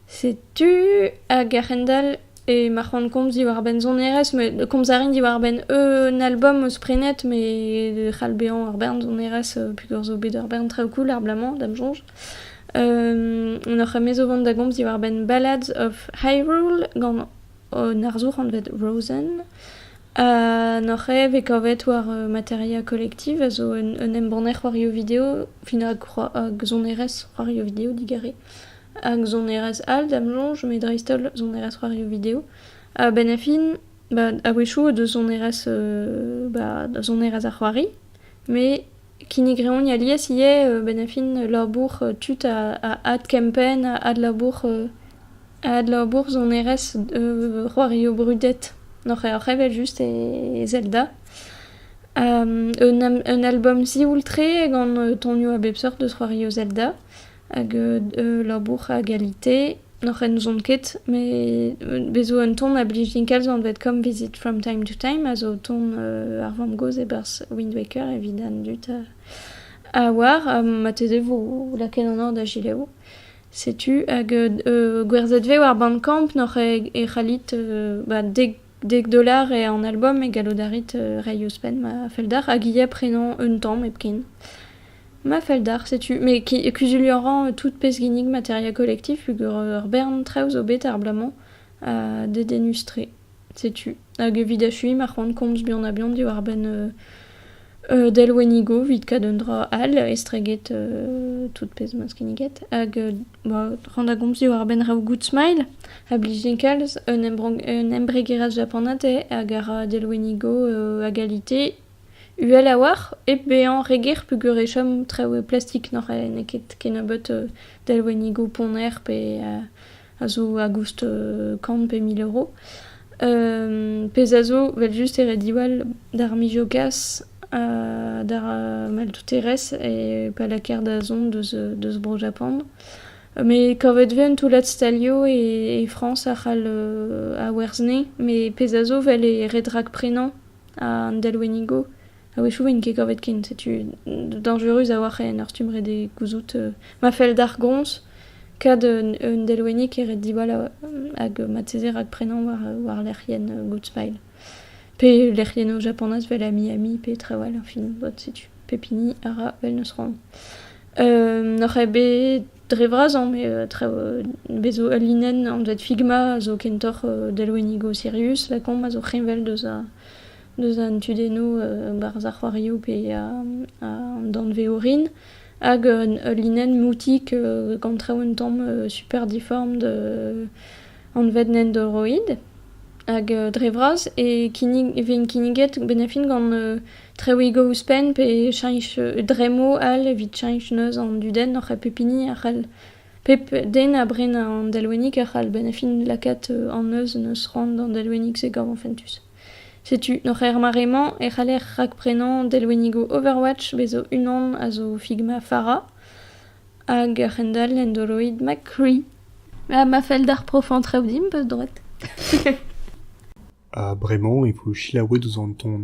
Setu hag a-hend-all e ma c'hoant komz diwar-benn sonerezh met komz a rin diwar-benn un album eus prenet met e c'hall bezañ ur bern sonerezh peogwir zo bet ur bern traoù cool er bloaz-mañ da'm soñj. N'oc'h ket-me zo vont da gomz diwar-benn Ballads of Hyrule gant un arzour anvet Rosen ha n'oc'h ket vez kavet war Materia Collective a zo un embanner c'hoarioù video, fin hag sonerezh c'hoarioù video digare. Hag sonerezh all da'm soñj, met dreist-holl sonerezh c'hoarioù video. A-benn ar fin, ba a-wechoù o deus sonerezh ba da sonerezh ar c'hoari, met kinnig 'reont alies ivez a-benn ar fin labour tud a a adkempenn, a adlabour a adlabour sonerezh c'hoarioù brudet oc'h oc'h evel-just e Zelda. un un albom sioul-tre gant tonioù a bep seurt eus c'hoarioù Zelda. Hag ul labour a galite n'hoc'h enzon ket met bez 'zo un ton a blij kalz anvet comme visit from time to time a zo ton ar vamm-gozh e-barzh Wind Waker evit an dud a oar. Marteze vo lakaet an or da gelaou. Setu hag gwerzhet vez war Bandcamp n'hoc'h e c'hallit ba dek dek dolar eo an album e gallout a rit reiñ ouzhpenn ma fell deoc'h hag ivez prenañ un tamm hepken. Ma fell deoc'h, setu me ki- kuzuliañ a ran tout pezh ginnig material kolektif peogwir ur bern traoù zo bet ar bloaz-mañ dedennus-tre. Setu hag evit achuiñ ma c'hoant komz buan-ha-buan diwar-benn delwennigoù evit kaout un dra all estreget tout pezh 'm eus kinniget hag ran da gomz diwar-benn raoù Good Smile a blije kalz un embregerezh japanat eo hag a ra delwennigoù a galite Uhel a-walc'h hep bezañ re ger peogwir e chom traoù plastik n'eo ket kennebeut delwennigoù ponner pe a zo a-goust kant pe mil euro. pezh a zo evel-just e re diwall d'ar mijogas ha d'ar maltouterezh e pa lakaer da zont deus Bro-Japan. Met kavet 'vez un toullad stalioù e Frañs a c'hall awerzhne met pezh a zo 'vel e red rakprenañ. An delwennigo, a-wechoù 'int ket kavet ken, setu dañjerus a-walc'h en ur stumm ret eo gouzout. Ma fell d'ar groñs kad un delwennig e ret diwall hag marteze rakprenañ war war lec'hienn Goodsmile. Pe lec'hienn o Japanaz 'vel a Miami pe traoù all, fin, bod setu. Pep hini a ra vel n'eus c'hoant. N'oc'h ket bet dre vras hañ met traoù bez zo ul linenn anvet Figma a zo kentoc'h delwennigoù sirius lakaomp a zo heñvel deus a deus an tudennoù barzh ar c'hoarioù pe an danvez orin hag ul linenn moutik gant traoù un tamm super diform anvet Nendoroid hag dre vras e kinnig e vez kinniget bennañ fin gant Treuiñ go ouzhpenn pe cheñch dremmoù all evit cheñch neuz an dudenn oc'h pep hini a c'hall pep den a bren an delwennig a c'hall benn ar fin lakaat an neuz en deus c'hoant d'an delwennig-se gavan fentus. Setu oc'h er mare-mañ e c'haller rakprenañ delwennigoù Overwatch bezo unan a zo Figma Pharra hag a-hend-all en do roit ma cri. Ha ma fell d'ar profañ traoù dimp eus droed. Ha bremañ e vo selaouet ouzh an ton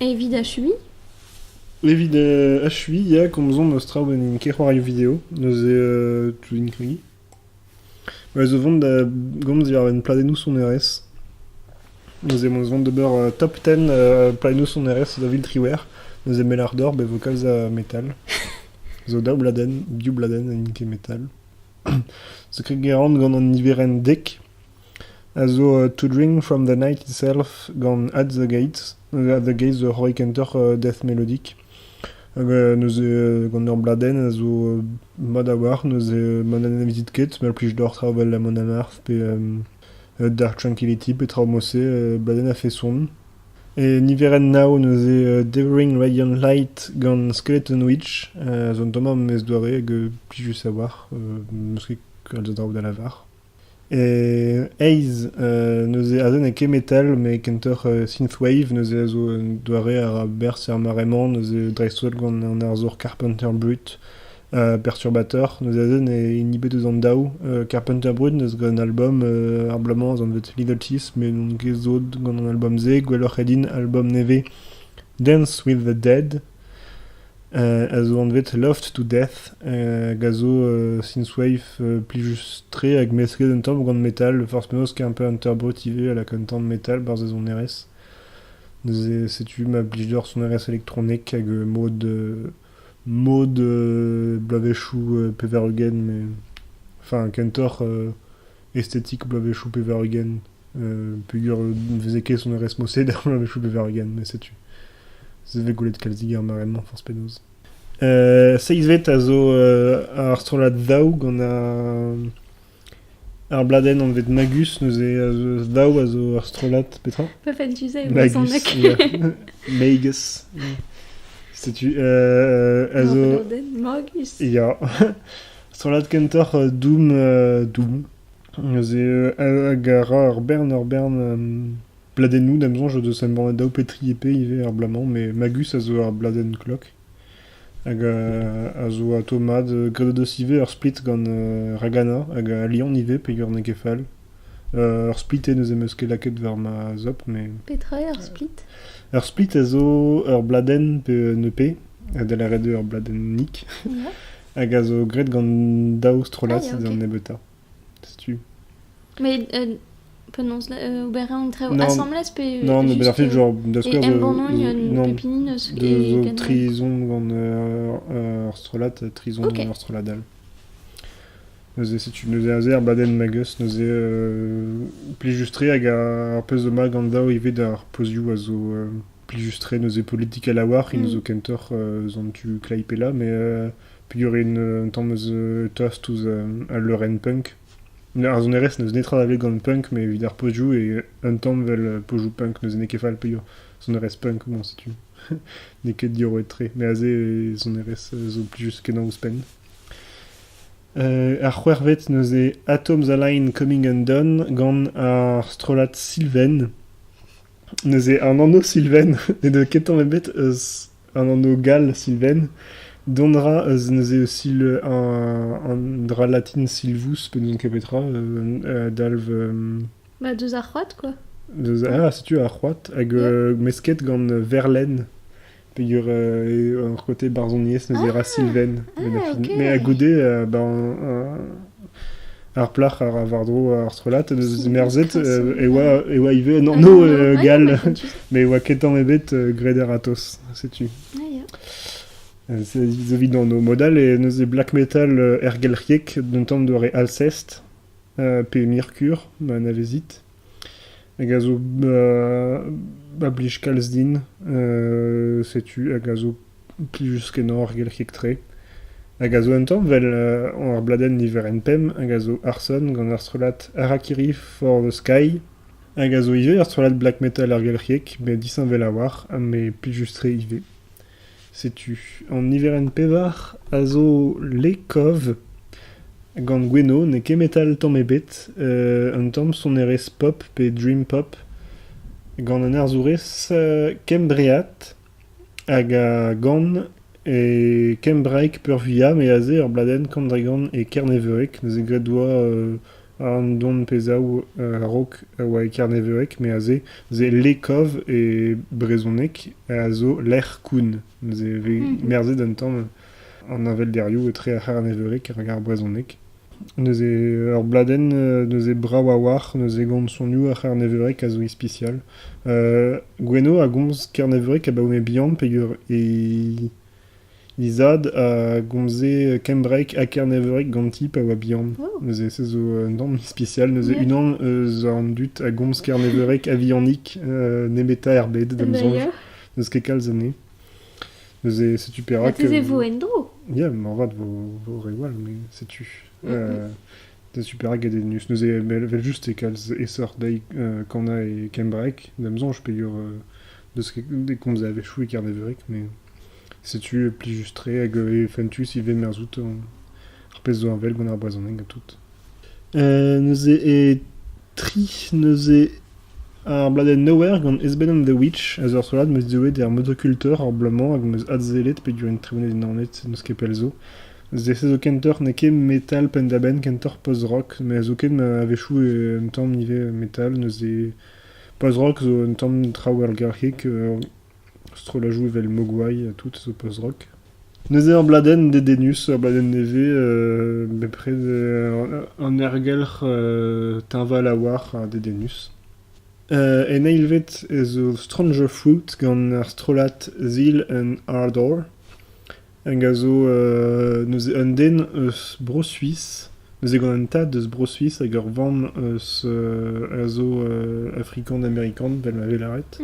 Evit achuiñ ? Evit achuiñ ya, komzomp eus traoù ma n'int ket c'hoarioù video, neuze tout int kregiñ. Ma'z eus vont da gomz diwar-benn pladennoù sonerezh, neuze ma'z eus vont d'ober top ten pladennoù sonerezh da Viltriware, neuze Melardor bet vo kalz a metal, zo daou bladenn, div bladenn, n'int ket metal. Zo ket ger on gant an niverenn dek. a zo To Drink from the Night itself gant At the Gates. At the Gates zo c'hoari kentoc'h death melodic. Hag neuze gant ur bladenn a zo mat a-walc'h, neuze ma n'anavezit ket, ma plij deoc'h traoù 'vel Mon Amarth pe Dark Tranquility pe traoù mod-se, bladenn a-feson. E niverenn nav neuze Devouring Radiant Light gant Skeleton Witch zo un tamm a mez-doare hag plijus a-walc'h, n'eus ket kalz a draoù da lavar. Ace neuze aze n'eo ket metal met kentoc'h synthwave neuze a zo un doare a ra berzh er mare-mañ neuze dreist-holl gant an arzour Carpenter Brut perturbator neuze aze n'eo hini ebet eus an daou Carpenter Brut n'eus gant an albom ar bloaz-mañ ez anvet Little Teeth met n'on ket sot gant an albom-se gwelloc'h eo din albom nevez Dance with the Dead. a zo anvet Loft to Death hag a zo synthwave plijus-tre hag mesket un tamm gant metal forzh penaos ket un peu an turbote ivez a laka un tamm metal barzh e sonerezh neuze setu ma blij deoc'h sonerezh elektronek hag mod mod bloavezhioù pevar-ugent mais enfin kentoc'h estetik bloavezhioù pevar-ugent peogwir ne veze ket sonerezh-mosed er bloavezhioù pevar-ugent met setu se vez gwelet kalzik er mare-mañ forzh penaos. seizhvet a zo ar strollad Daou gant ar bladenn anvet Magus neuze Daou a zo ur strollad petra? Puffin Tuesday Magus Magus setu a zo Magus ya Strollad kentoc'h Doom Doom neuze hag a ra ur bern ur bern pladennoù da'm soñj o deus embannet daou pe tri EP ivez er bloaz-mañ met Magus a zo ur bladenn klok hag a zo atav mat graet o deus ivez ur split gant Ragana hag Lion ivez peger n'eo ket fall ur split eo neuze 'm eus ket lakaet war ma zop mais... Petra eo ur split? Ur split a zo ur bladenn pe un EP da lâret eo ur bladenn nik hag a zo graet gant daou strollad ah, okay. nebeutañ. Setu. Mais euh, penaos là euh, ober un très non, assemblage pe non mais ben fait genre de ce que de non pépinineuse de trison gant euh, orstrolate trison okay. orstradal Nous si tu nous azer baden magus nous euh, plus justre hag ar pez de ma gant dao ive d'ar pozioù a zo Plijus-tre neuze politikel a-walc'h, hini zo kentoc'h eus an tu Klaipeda, mais peogwir int un tamm eus tost ouzh al leurenn punk. Ar sonerezh n'eus netra da welet gant punk, mais evit ar pozioù eo un tamm vel pozioù punk, n'eus ket fall peogwir sonerezh punk, bon setu, n'eo ket diorroet-tre, mais aze e sonerezh zo plijus kenañ ouzhpenn. Ar c'hwec'hvet neuze Atom's a Line Coming Undone gant ar strollad Sylvain. neuze an anv Sylvain n'edo ket tamm ebet eus an anv gall Sylvain. Dont a ra eus neuze sil an dra latin silvus pe n'ouzon ket petra, a dalv... Bah deus ar c'hoad quoi. Deus... ah setu ar c'hoad hag mesket gant verlenn. peogwir eo ur côté barzhoniezh neuze e ra Sylvain Benafin. Mais à goude, euh, ben, ar plac'h a ra war-dro ar strollad, merzet euh, e oa, e oa ivez an anv euh, gall, mais e oa ketan ebet euh, graet a-ratoz, setu. Ah, Zo evit an modal et neuze black metal ergelc'hiek d'un tamm doare Alcest, pe Mercure, ma navezit. Hag a zo ma blij kalz din. setu hag a zo plijus-kenañ ar gelc'hieg-tre. Hag a zo un tamm vel ar bladenn niverenn pemp hag a zo Arson gant ar strollad Harakiri for the Sky. Hag a zo ivez ur strollad black metal er gelc'hieg met disheñvel a-walc'h ha met plijus-tre ivez. Setu an niverenn pevar a zo Lekov gant Gwenno, n'eo ket metal tamm ebet, un tamm sonerezh pop pe dream pop gant an arzourez kembreat hag a gan e kembraeg peurvuiañ, me aze ur bladenn kambregan e kerneveureg neuze graet 'doa An donpezhaoù a-raok a oa e kerneveureg met aze se lekov e brezhoneg a zo lec'h koun se vez merzet un tamm an avelderioù etre ar c'herneveureg hag ar brezhoneg. Neuze ur bladenn neuze brav a-walc'h neuze gant sonioù ar c'herneveureg a zo ispisial. Gwenno a gomz kerneveureg abaoe bihan peogwir e He zad a gomze kembraeg ha kerneveureg ganti pa oa bihan. Neuze se zo un tamm ispisial, neuze unan eus an dud a gomz kerneveureg a-vihanik euh, nemetañ er bed, da'm soñj. N'eus ket kalz anezhe. Neuze setu perak... Mateze vo en-dro Ya, moarvat vo, vo re wall, mais setu. Euh, setu perak get Ednus. Neuze vel, vel just e kalz essor dezhi euh, kana e kembraeg. Da'm soñj peger euh, N'eus ket e komz a-wechoù e kerneveureg, met setu plijus-tre hag e fentus ivez merzout ar pezh zo heñvel gant ar brezhoneg ha tout. neuze e tri neuze ar bladenn Nowhere gant Esben and the Witch a zo ur strollad 'meus deuet er motocultor ar bloaz-mañ hag 'meus adsellet peogwir int tremenet e Naoned n'eus ket pell zo. Zese zo kentoc'h n'eo ket metal penn-da-benn, kentoc'h post-rock, met zo ket a-wechoù un tamm ivez metal neuze Post-rock zo un tamm traoù algarkiek, strollajoù evel Mogwai ha tout zo post-rock. Neuze ur bladenn dedennus, ur bladenn nevez bepred, un ergelc'h teñval a-walc'h ha dedennus. En eil vet ez eus Stranger Fruit gant ar strollad Zeal and Ardor. Hag a zo neuze un den eus Bro-Suis, neuze gant un tad eus Bro-Suis hag ur vamm eus a zo afrikan-amerikan, vel ma vez lâret.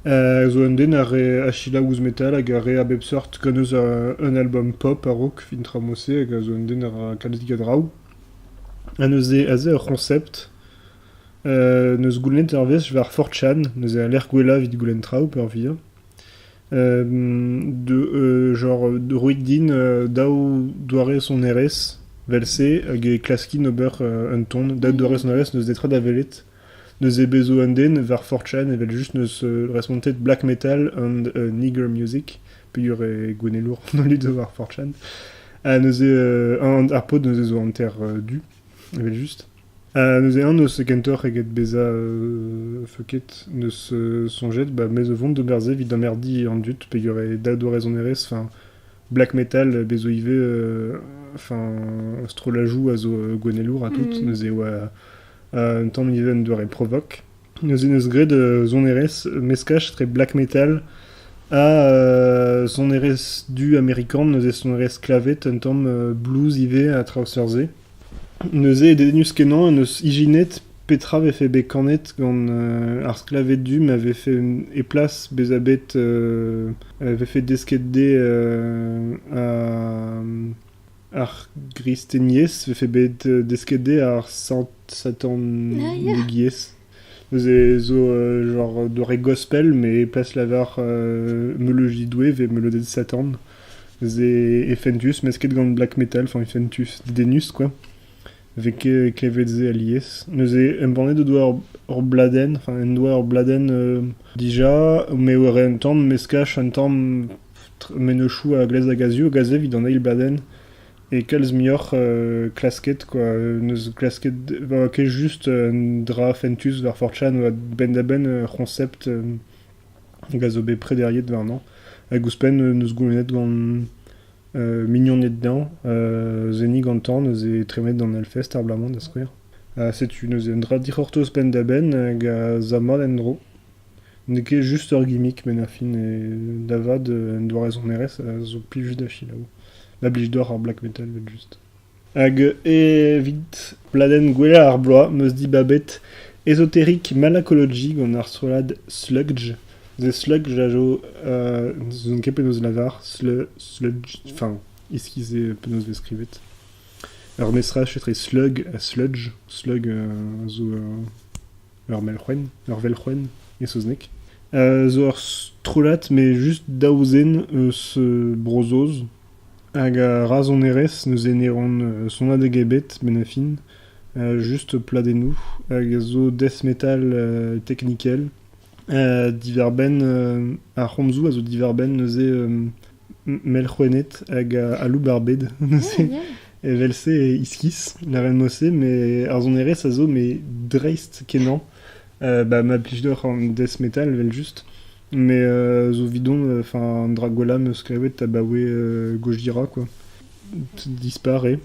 A zo un den a rae achilañ ouzh metal hag a rae a bep seurt gant eus un album pop a-raok fin tra mod-se hag a zo un den a ra kalzik a draoù. Ha neuze aze ur c'honsept neus goulennet ur wech war 4chan, neuze a lec'h gwellañ evit goulenn traoù peurvuiañ. Genre roit din daou doare sonerezh 'vel-se hag e klaskin ober un ton. Daou doare sonerezh n'eus netra da welet. N'eus e bezv un den war 4chan evel-just n'eus respontet black metal and nigger music peogwir eo gouennelour an holl dud war 4chan. Ha neuze ar pod neuze zo hanter du evel-just. neuze eñ n'eus kentoc'h eget bezañ feuket, n'eus soñjet ba me zo vont d'ober se evit amerdiñ an dud peogwir e daou doare-sonerezh, enfin black metal be zo ivez enfin strollajoù a zo gouennelour ha tout, neuze e oa un tamm ivez un doare provoque, neuze neus graet sonerezh meskaj etre black metal ha sonerezh du amerikan, neuze sonerezh sklaved un tamm blues ivez a traoù seurt-se. Neuze, dedennus-kenañ, en deus ijinet petra vefe bet kanet gant ar sklaved du ma vefe e plas bezañ bet vefe desket dezhe ar gristeniezh, vefe bet desket dezhe ar satannegiezh. Neuze zo genre doare gospel, mais plas lavar meuleudi Doue vez meuleuded Satan. Neuze e fentus, mesket gant black metal, enfin e fentus, dedennus quoi. Vez klevet se alies. Neuze embannet o doa ur bladenn, enfin en doa ur bladenn dija, met war un tamm meskaj un tamm mennozhioù a glaz hag a-zu, hag aze evit an eil bladenn. E kalz muioc'h klasket kwa, n'eus klasket, n'oa ket just un dra fentus war four chan, oa benn-da-benn ur c'honsept hag a zo bet prederiet warnañ. Hag ouzhpenn neus goulennet gant mignoned dezhañ seniñ gantañ, neuze tremenet d'an Hellfest ar bloaz-mañ da skouer. Ha setu neuze un dra dic'hortoz penn-da-benn hag a za mat en-dro. N'eo ket just ur gimmick met ar fin da vat un doare sonerezh a zo plij da selaou. Ma blij deoc'h ar black metal evel-just. Hag evit pladenn gwellañ ar bloaz 'meus dibabet Esoteric Malacology gant ar strollad Sludge. Se Sludge a zo n'ouzon ket penaos lavar Sludge, enfin iskis eo penaos e vez skrivet. Ur mezhras etre slug ha sludge, slug a zo ur melc'hwen, ur velc'hwen e saozneg, zo ur strollad met just daou zen eus Bro-Saoz hag a ra sonerezh neuze ne ran sonadeg ebet benn ar fin, just pladennoù hag a zo death metal teknikel. diwar-benn ar c'homzoù a zo diwar-benn neuze melc'houenned hag aloubarbed neuze. Evel-se iskis lavaret-mo-se, mais ar sonerezh a zo mais dreist-kenañ. Euh, bah, ma plij deoc'h an death metal evel-just, mais euh, zo 'vidon enfin Dragwala 'm eus skrivet abaoe euh, Gojira quoi. Disparaît.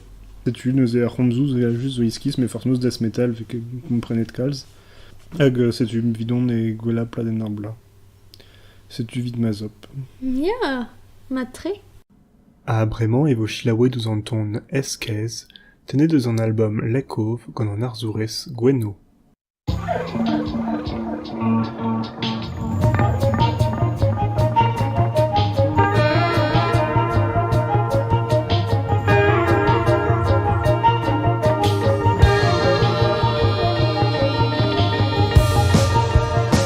Setu neuze ar c'homzoù evel-just zo iskis, mais forcément death metal, vu que vous me prenez de calze. Hag euh, setu 'm 'vidon e gwella pladenn ar bloaz. Setu 'vid ma zop. Ya, mat-tre. Ha bremañ e vo selaouet ouzh an ton Ez-kaezh tennet eus an album Lekov gant an arzourez Gwenno.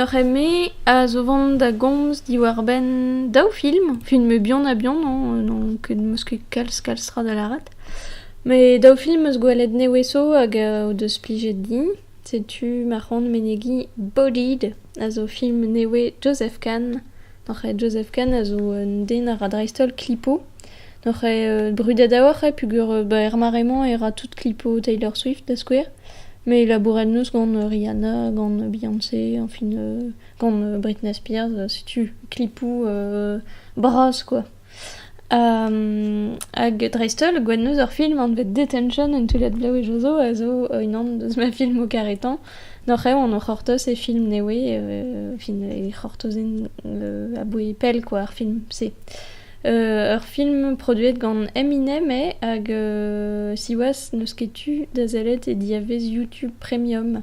Ur c'heme a zo vont da gomz diwar-benn daou film, filmoù bihan-ha-bihan n'on ket n'eus ket kalz kalz tra da lâret. Met daou film 'm eus gwelet neveso hag o deus plijet din. Setu ma c'hoant menegiñ Bolide, a zo film nevez Joseph Kahn. Noc'h eo Joseph Kahn a zo un den a ra dreist-holl klipo. Noc'h eo brudet a-walc'h eo peogwir ba er mare-mañ e ra tout klipo Taylor Swift da skouer. Mais il a bourret noz gant Rihanna, gant Beyoncé, enfin gant Britney Spears, setu klipo bras quoi. Hag dreist-holl, gwennozh ur film anvet Detention en toullad Blaouezh Jozo a zo unan deus ma filmoù karetañ. N'oc'h eo anv c'hortoz e film Newe, e c'hortozenn aboe pell kwa ar film-se. Ur film produet gant Eminem eo hag siwazh n'eus ket tu da sellet e diavez YouTube Premium.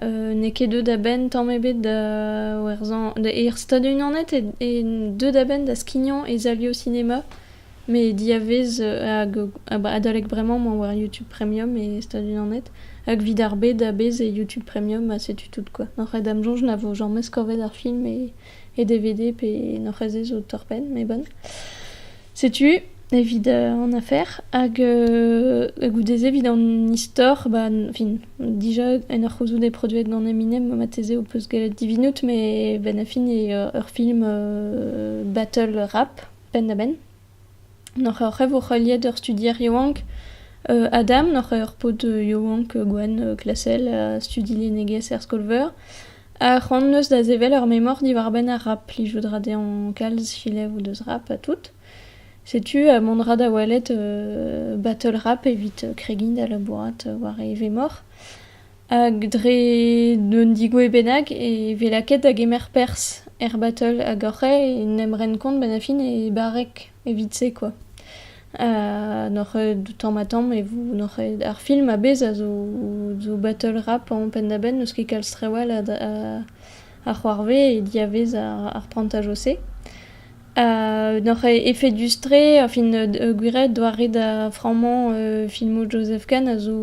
n'eo ket deuet a-benn tamm ebet da werzhañ er Stadoù-Unanet eo deuet a-benn da skignañ e salioù sinema met diavez hag adalek bremañ emañ war youtube premium e Stadoù-Unanet hag 'vit ar bed a-bezh e youtube premium ha setu tout quoi oc'h aet da'm soñj na vo james korvet ar film e e DVD pe en hor c'hezez zo torr-penn, mais bon. Setu evit euh, an afer hag euh, goude-se evit an istor bah, fin, déjà en ur c'houzout eo produet gant Eminem marteze ho peus gallet divinout mais ben a fin eo ur film euh, battle rap penn-da-benn Noc'h oc'h e vo heuliet ur studier yaouank Adam, noc'h eo ar paotr yaouank gwenn klasel a studi lennegezh er skol-veur. Ha c'hoant 'neus da sevel ur memor diwar-benn ar rap, plijout 'ra dezhañ kalz filev o deus rap ha tout. Setu mont 'ra da welet battle rap evit kregiñ da labourat war e vemor. Hag dre d'un digouezh bennak e vez lakaet da gemer perzh er batol hag oc'h en em ren kont benn ar fin e barreg evit-se kwa. Ha n'oc'h ket tamm-ha-tamm e vo n'oc'h ket ar film a-bezh a zo zo batol rap anv penn-da-benn n'eus ket kalz trawalc'h a a c'hoarvez e diavez ar ar prantajoù-se. N'oc'h efedus-tre, fin gwir, doare da frammañ filmoù Joseph Kahn a zo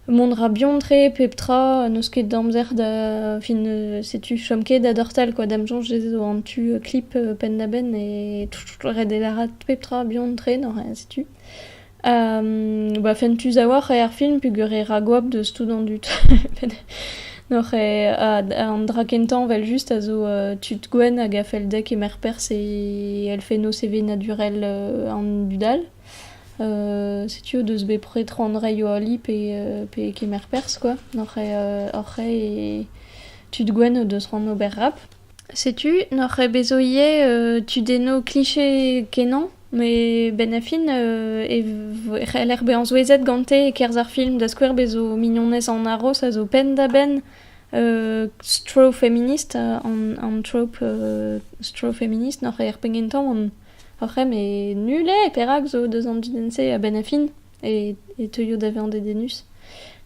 mont ra buan-tre pep tra, n'eus ket d'amzer da fin setu chom ket da dortal kwa, da'm soñj ez eo an tu klip penn-da-benn e ret elarat pep tra buan-tre, neuze setu. Ba fentus a-walc'h eo ar film peogwir eo ra goap deus tout an dud. N'oc'h eo an dra kentañ evel-just a zo tud gwenn hag a fell dezhe kemer perzh e elfennoù sevenadurel an dud all. Setu o deus bepred tro an reiñ o ali pe kemer perzh quoi. N'oc'h eo tud gwenn o deus c'hoant ober rap. Setu n'oc'h ket bet zo ivez tudennoù kliché kenañ met benn ar fin e c'heller bezañ souezhet gante e-kerzh ar film da skouer bez zo mignonez an aros a zo penn-da-benn stroll feminist an trope stroll feminist n'oc'h ket er penn gentañ oc'h em eo nul eo perak zo deus an dudenn-se benn ar fin. e teuio da vezañ dedennus.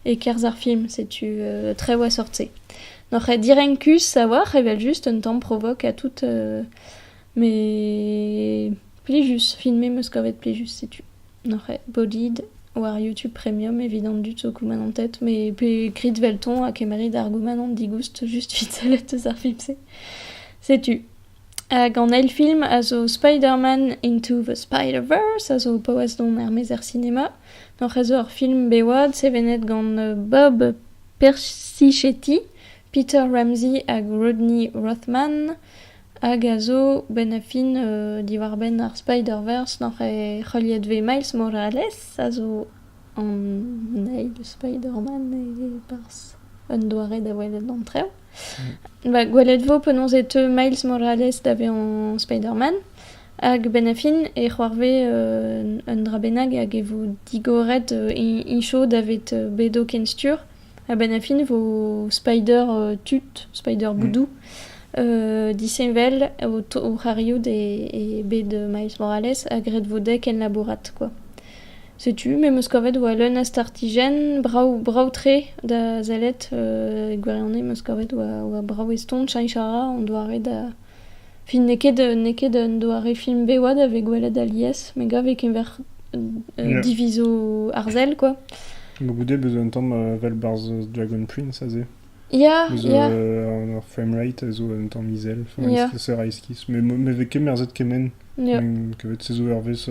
E-kerzh ar film, setu trev a-sort-se. N'oc'h ket direnkus a-walc'h, evel-just, un tamm provoc ha tout, met plijus. Filmet 'm eus kavet plijus, setu. N'oc'h ket bolid war YouTube Premium evit an dud zo goumanant tet, met pe grit 'velton ha kemmarit ar goumanant digoust just 'vit sellet eus ar film-se. Setu. Hag an eil film a zo Spider-Man Into the Spider-Verse, a zo paouez don er-maez er sinema. Hoc'h eus zo ur film bev-oad sevenet gant Bob Persichetti, Peter Ramsey hag Rodney Rothman, hag a zo benn a fin diwar-benn ar Spider-Verse n'oc'h eo heuliet vez Miles Morales, a zo an eil Spider-Man e-barzh un doare da welet an traoù. Ba gwelet 'vo penaos e teu Miles Morales da vezañ Spider-Man. Hag a-benn a fin e c'hoarvez un dra bennak hag e vo digoret iñcho davet bedo ken stur. A-benn a fin 'vo Spider tut, Spider boudoù disheñvel o c'ariout e bed Miles Morales ha graet 'vo dezhe kenlabourat kwa. Setu, me 'meus kavet oa leun a startijenn brav-brav-tre da sellet. E gwirionez 'meus kavet oa brav eston cheñch a ra an doare da... Fin n'eo ket n'eo ket un doare film bev da vez gwelet alies, me gav e-keñver divizoù arzel kwa. Ba goude 'beus un tamm evel 'barzh Dragon Prince aze. Ya, ya. Ur framerate a zo un tamm izel, ferestress, mais me vez ket merzet kement. kavet 16 eurvezh...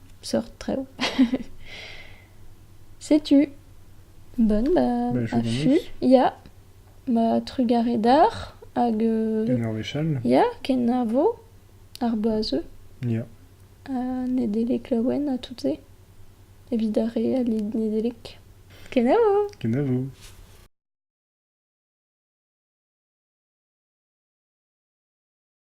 seurt traoù. Setu. Bonne bah, bah affût. Ya. Ma trugaredar hag... Euh, ken ar wechall. Ya, kenavo ar boazeux. Ya. Ha Nedelek laouen à toutes et. Evit ar re a Nedelek. Kenavo! Kenavo!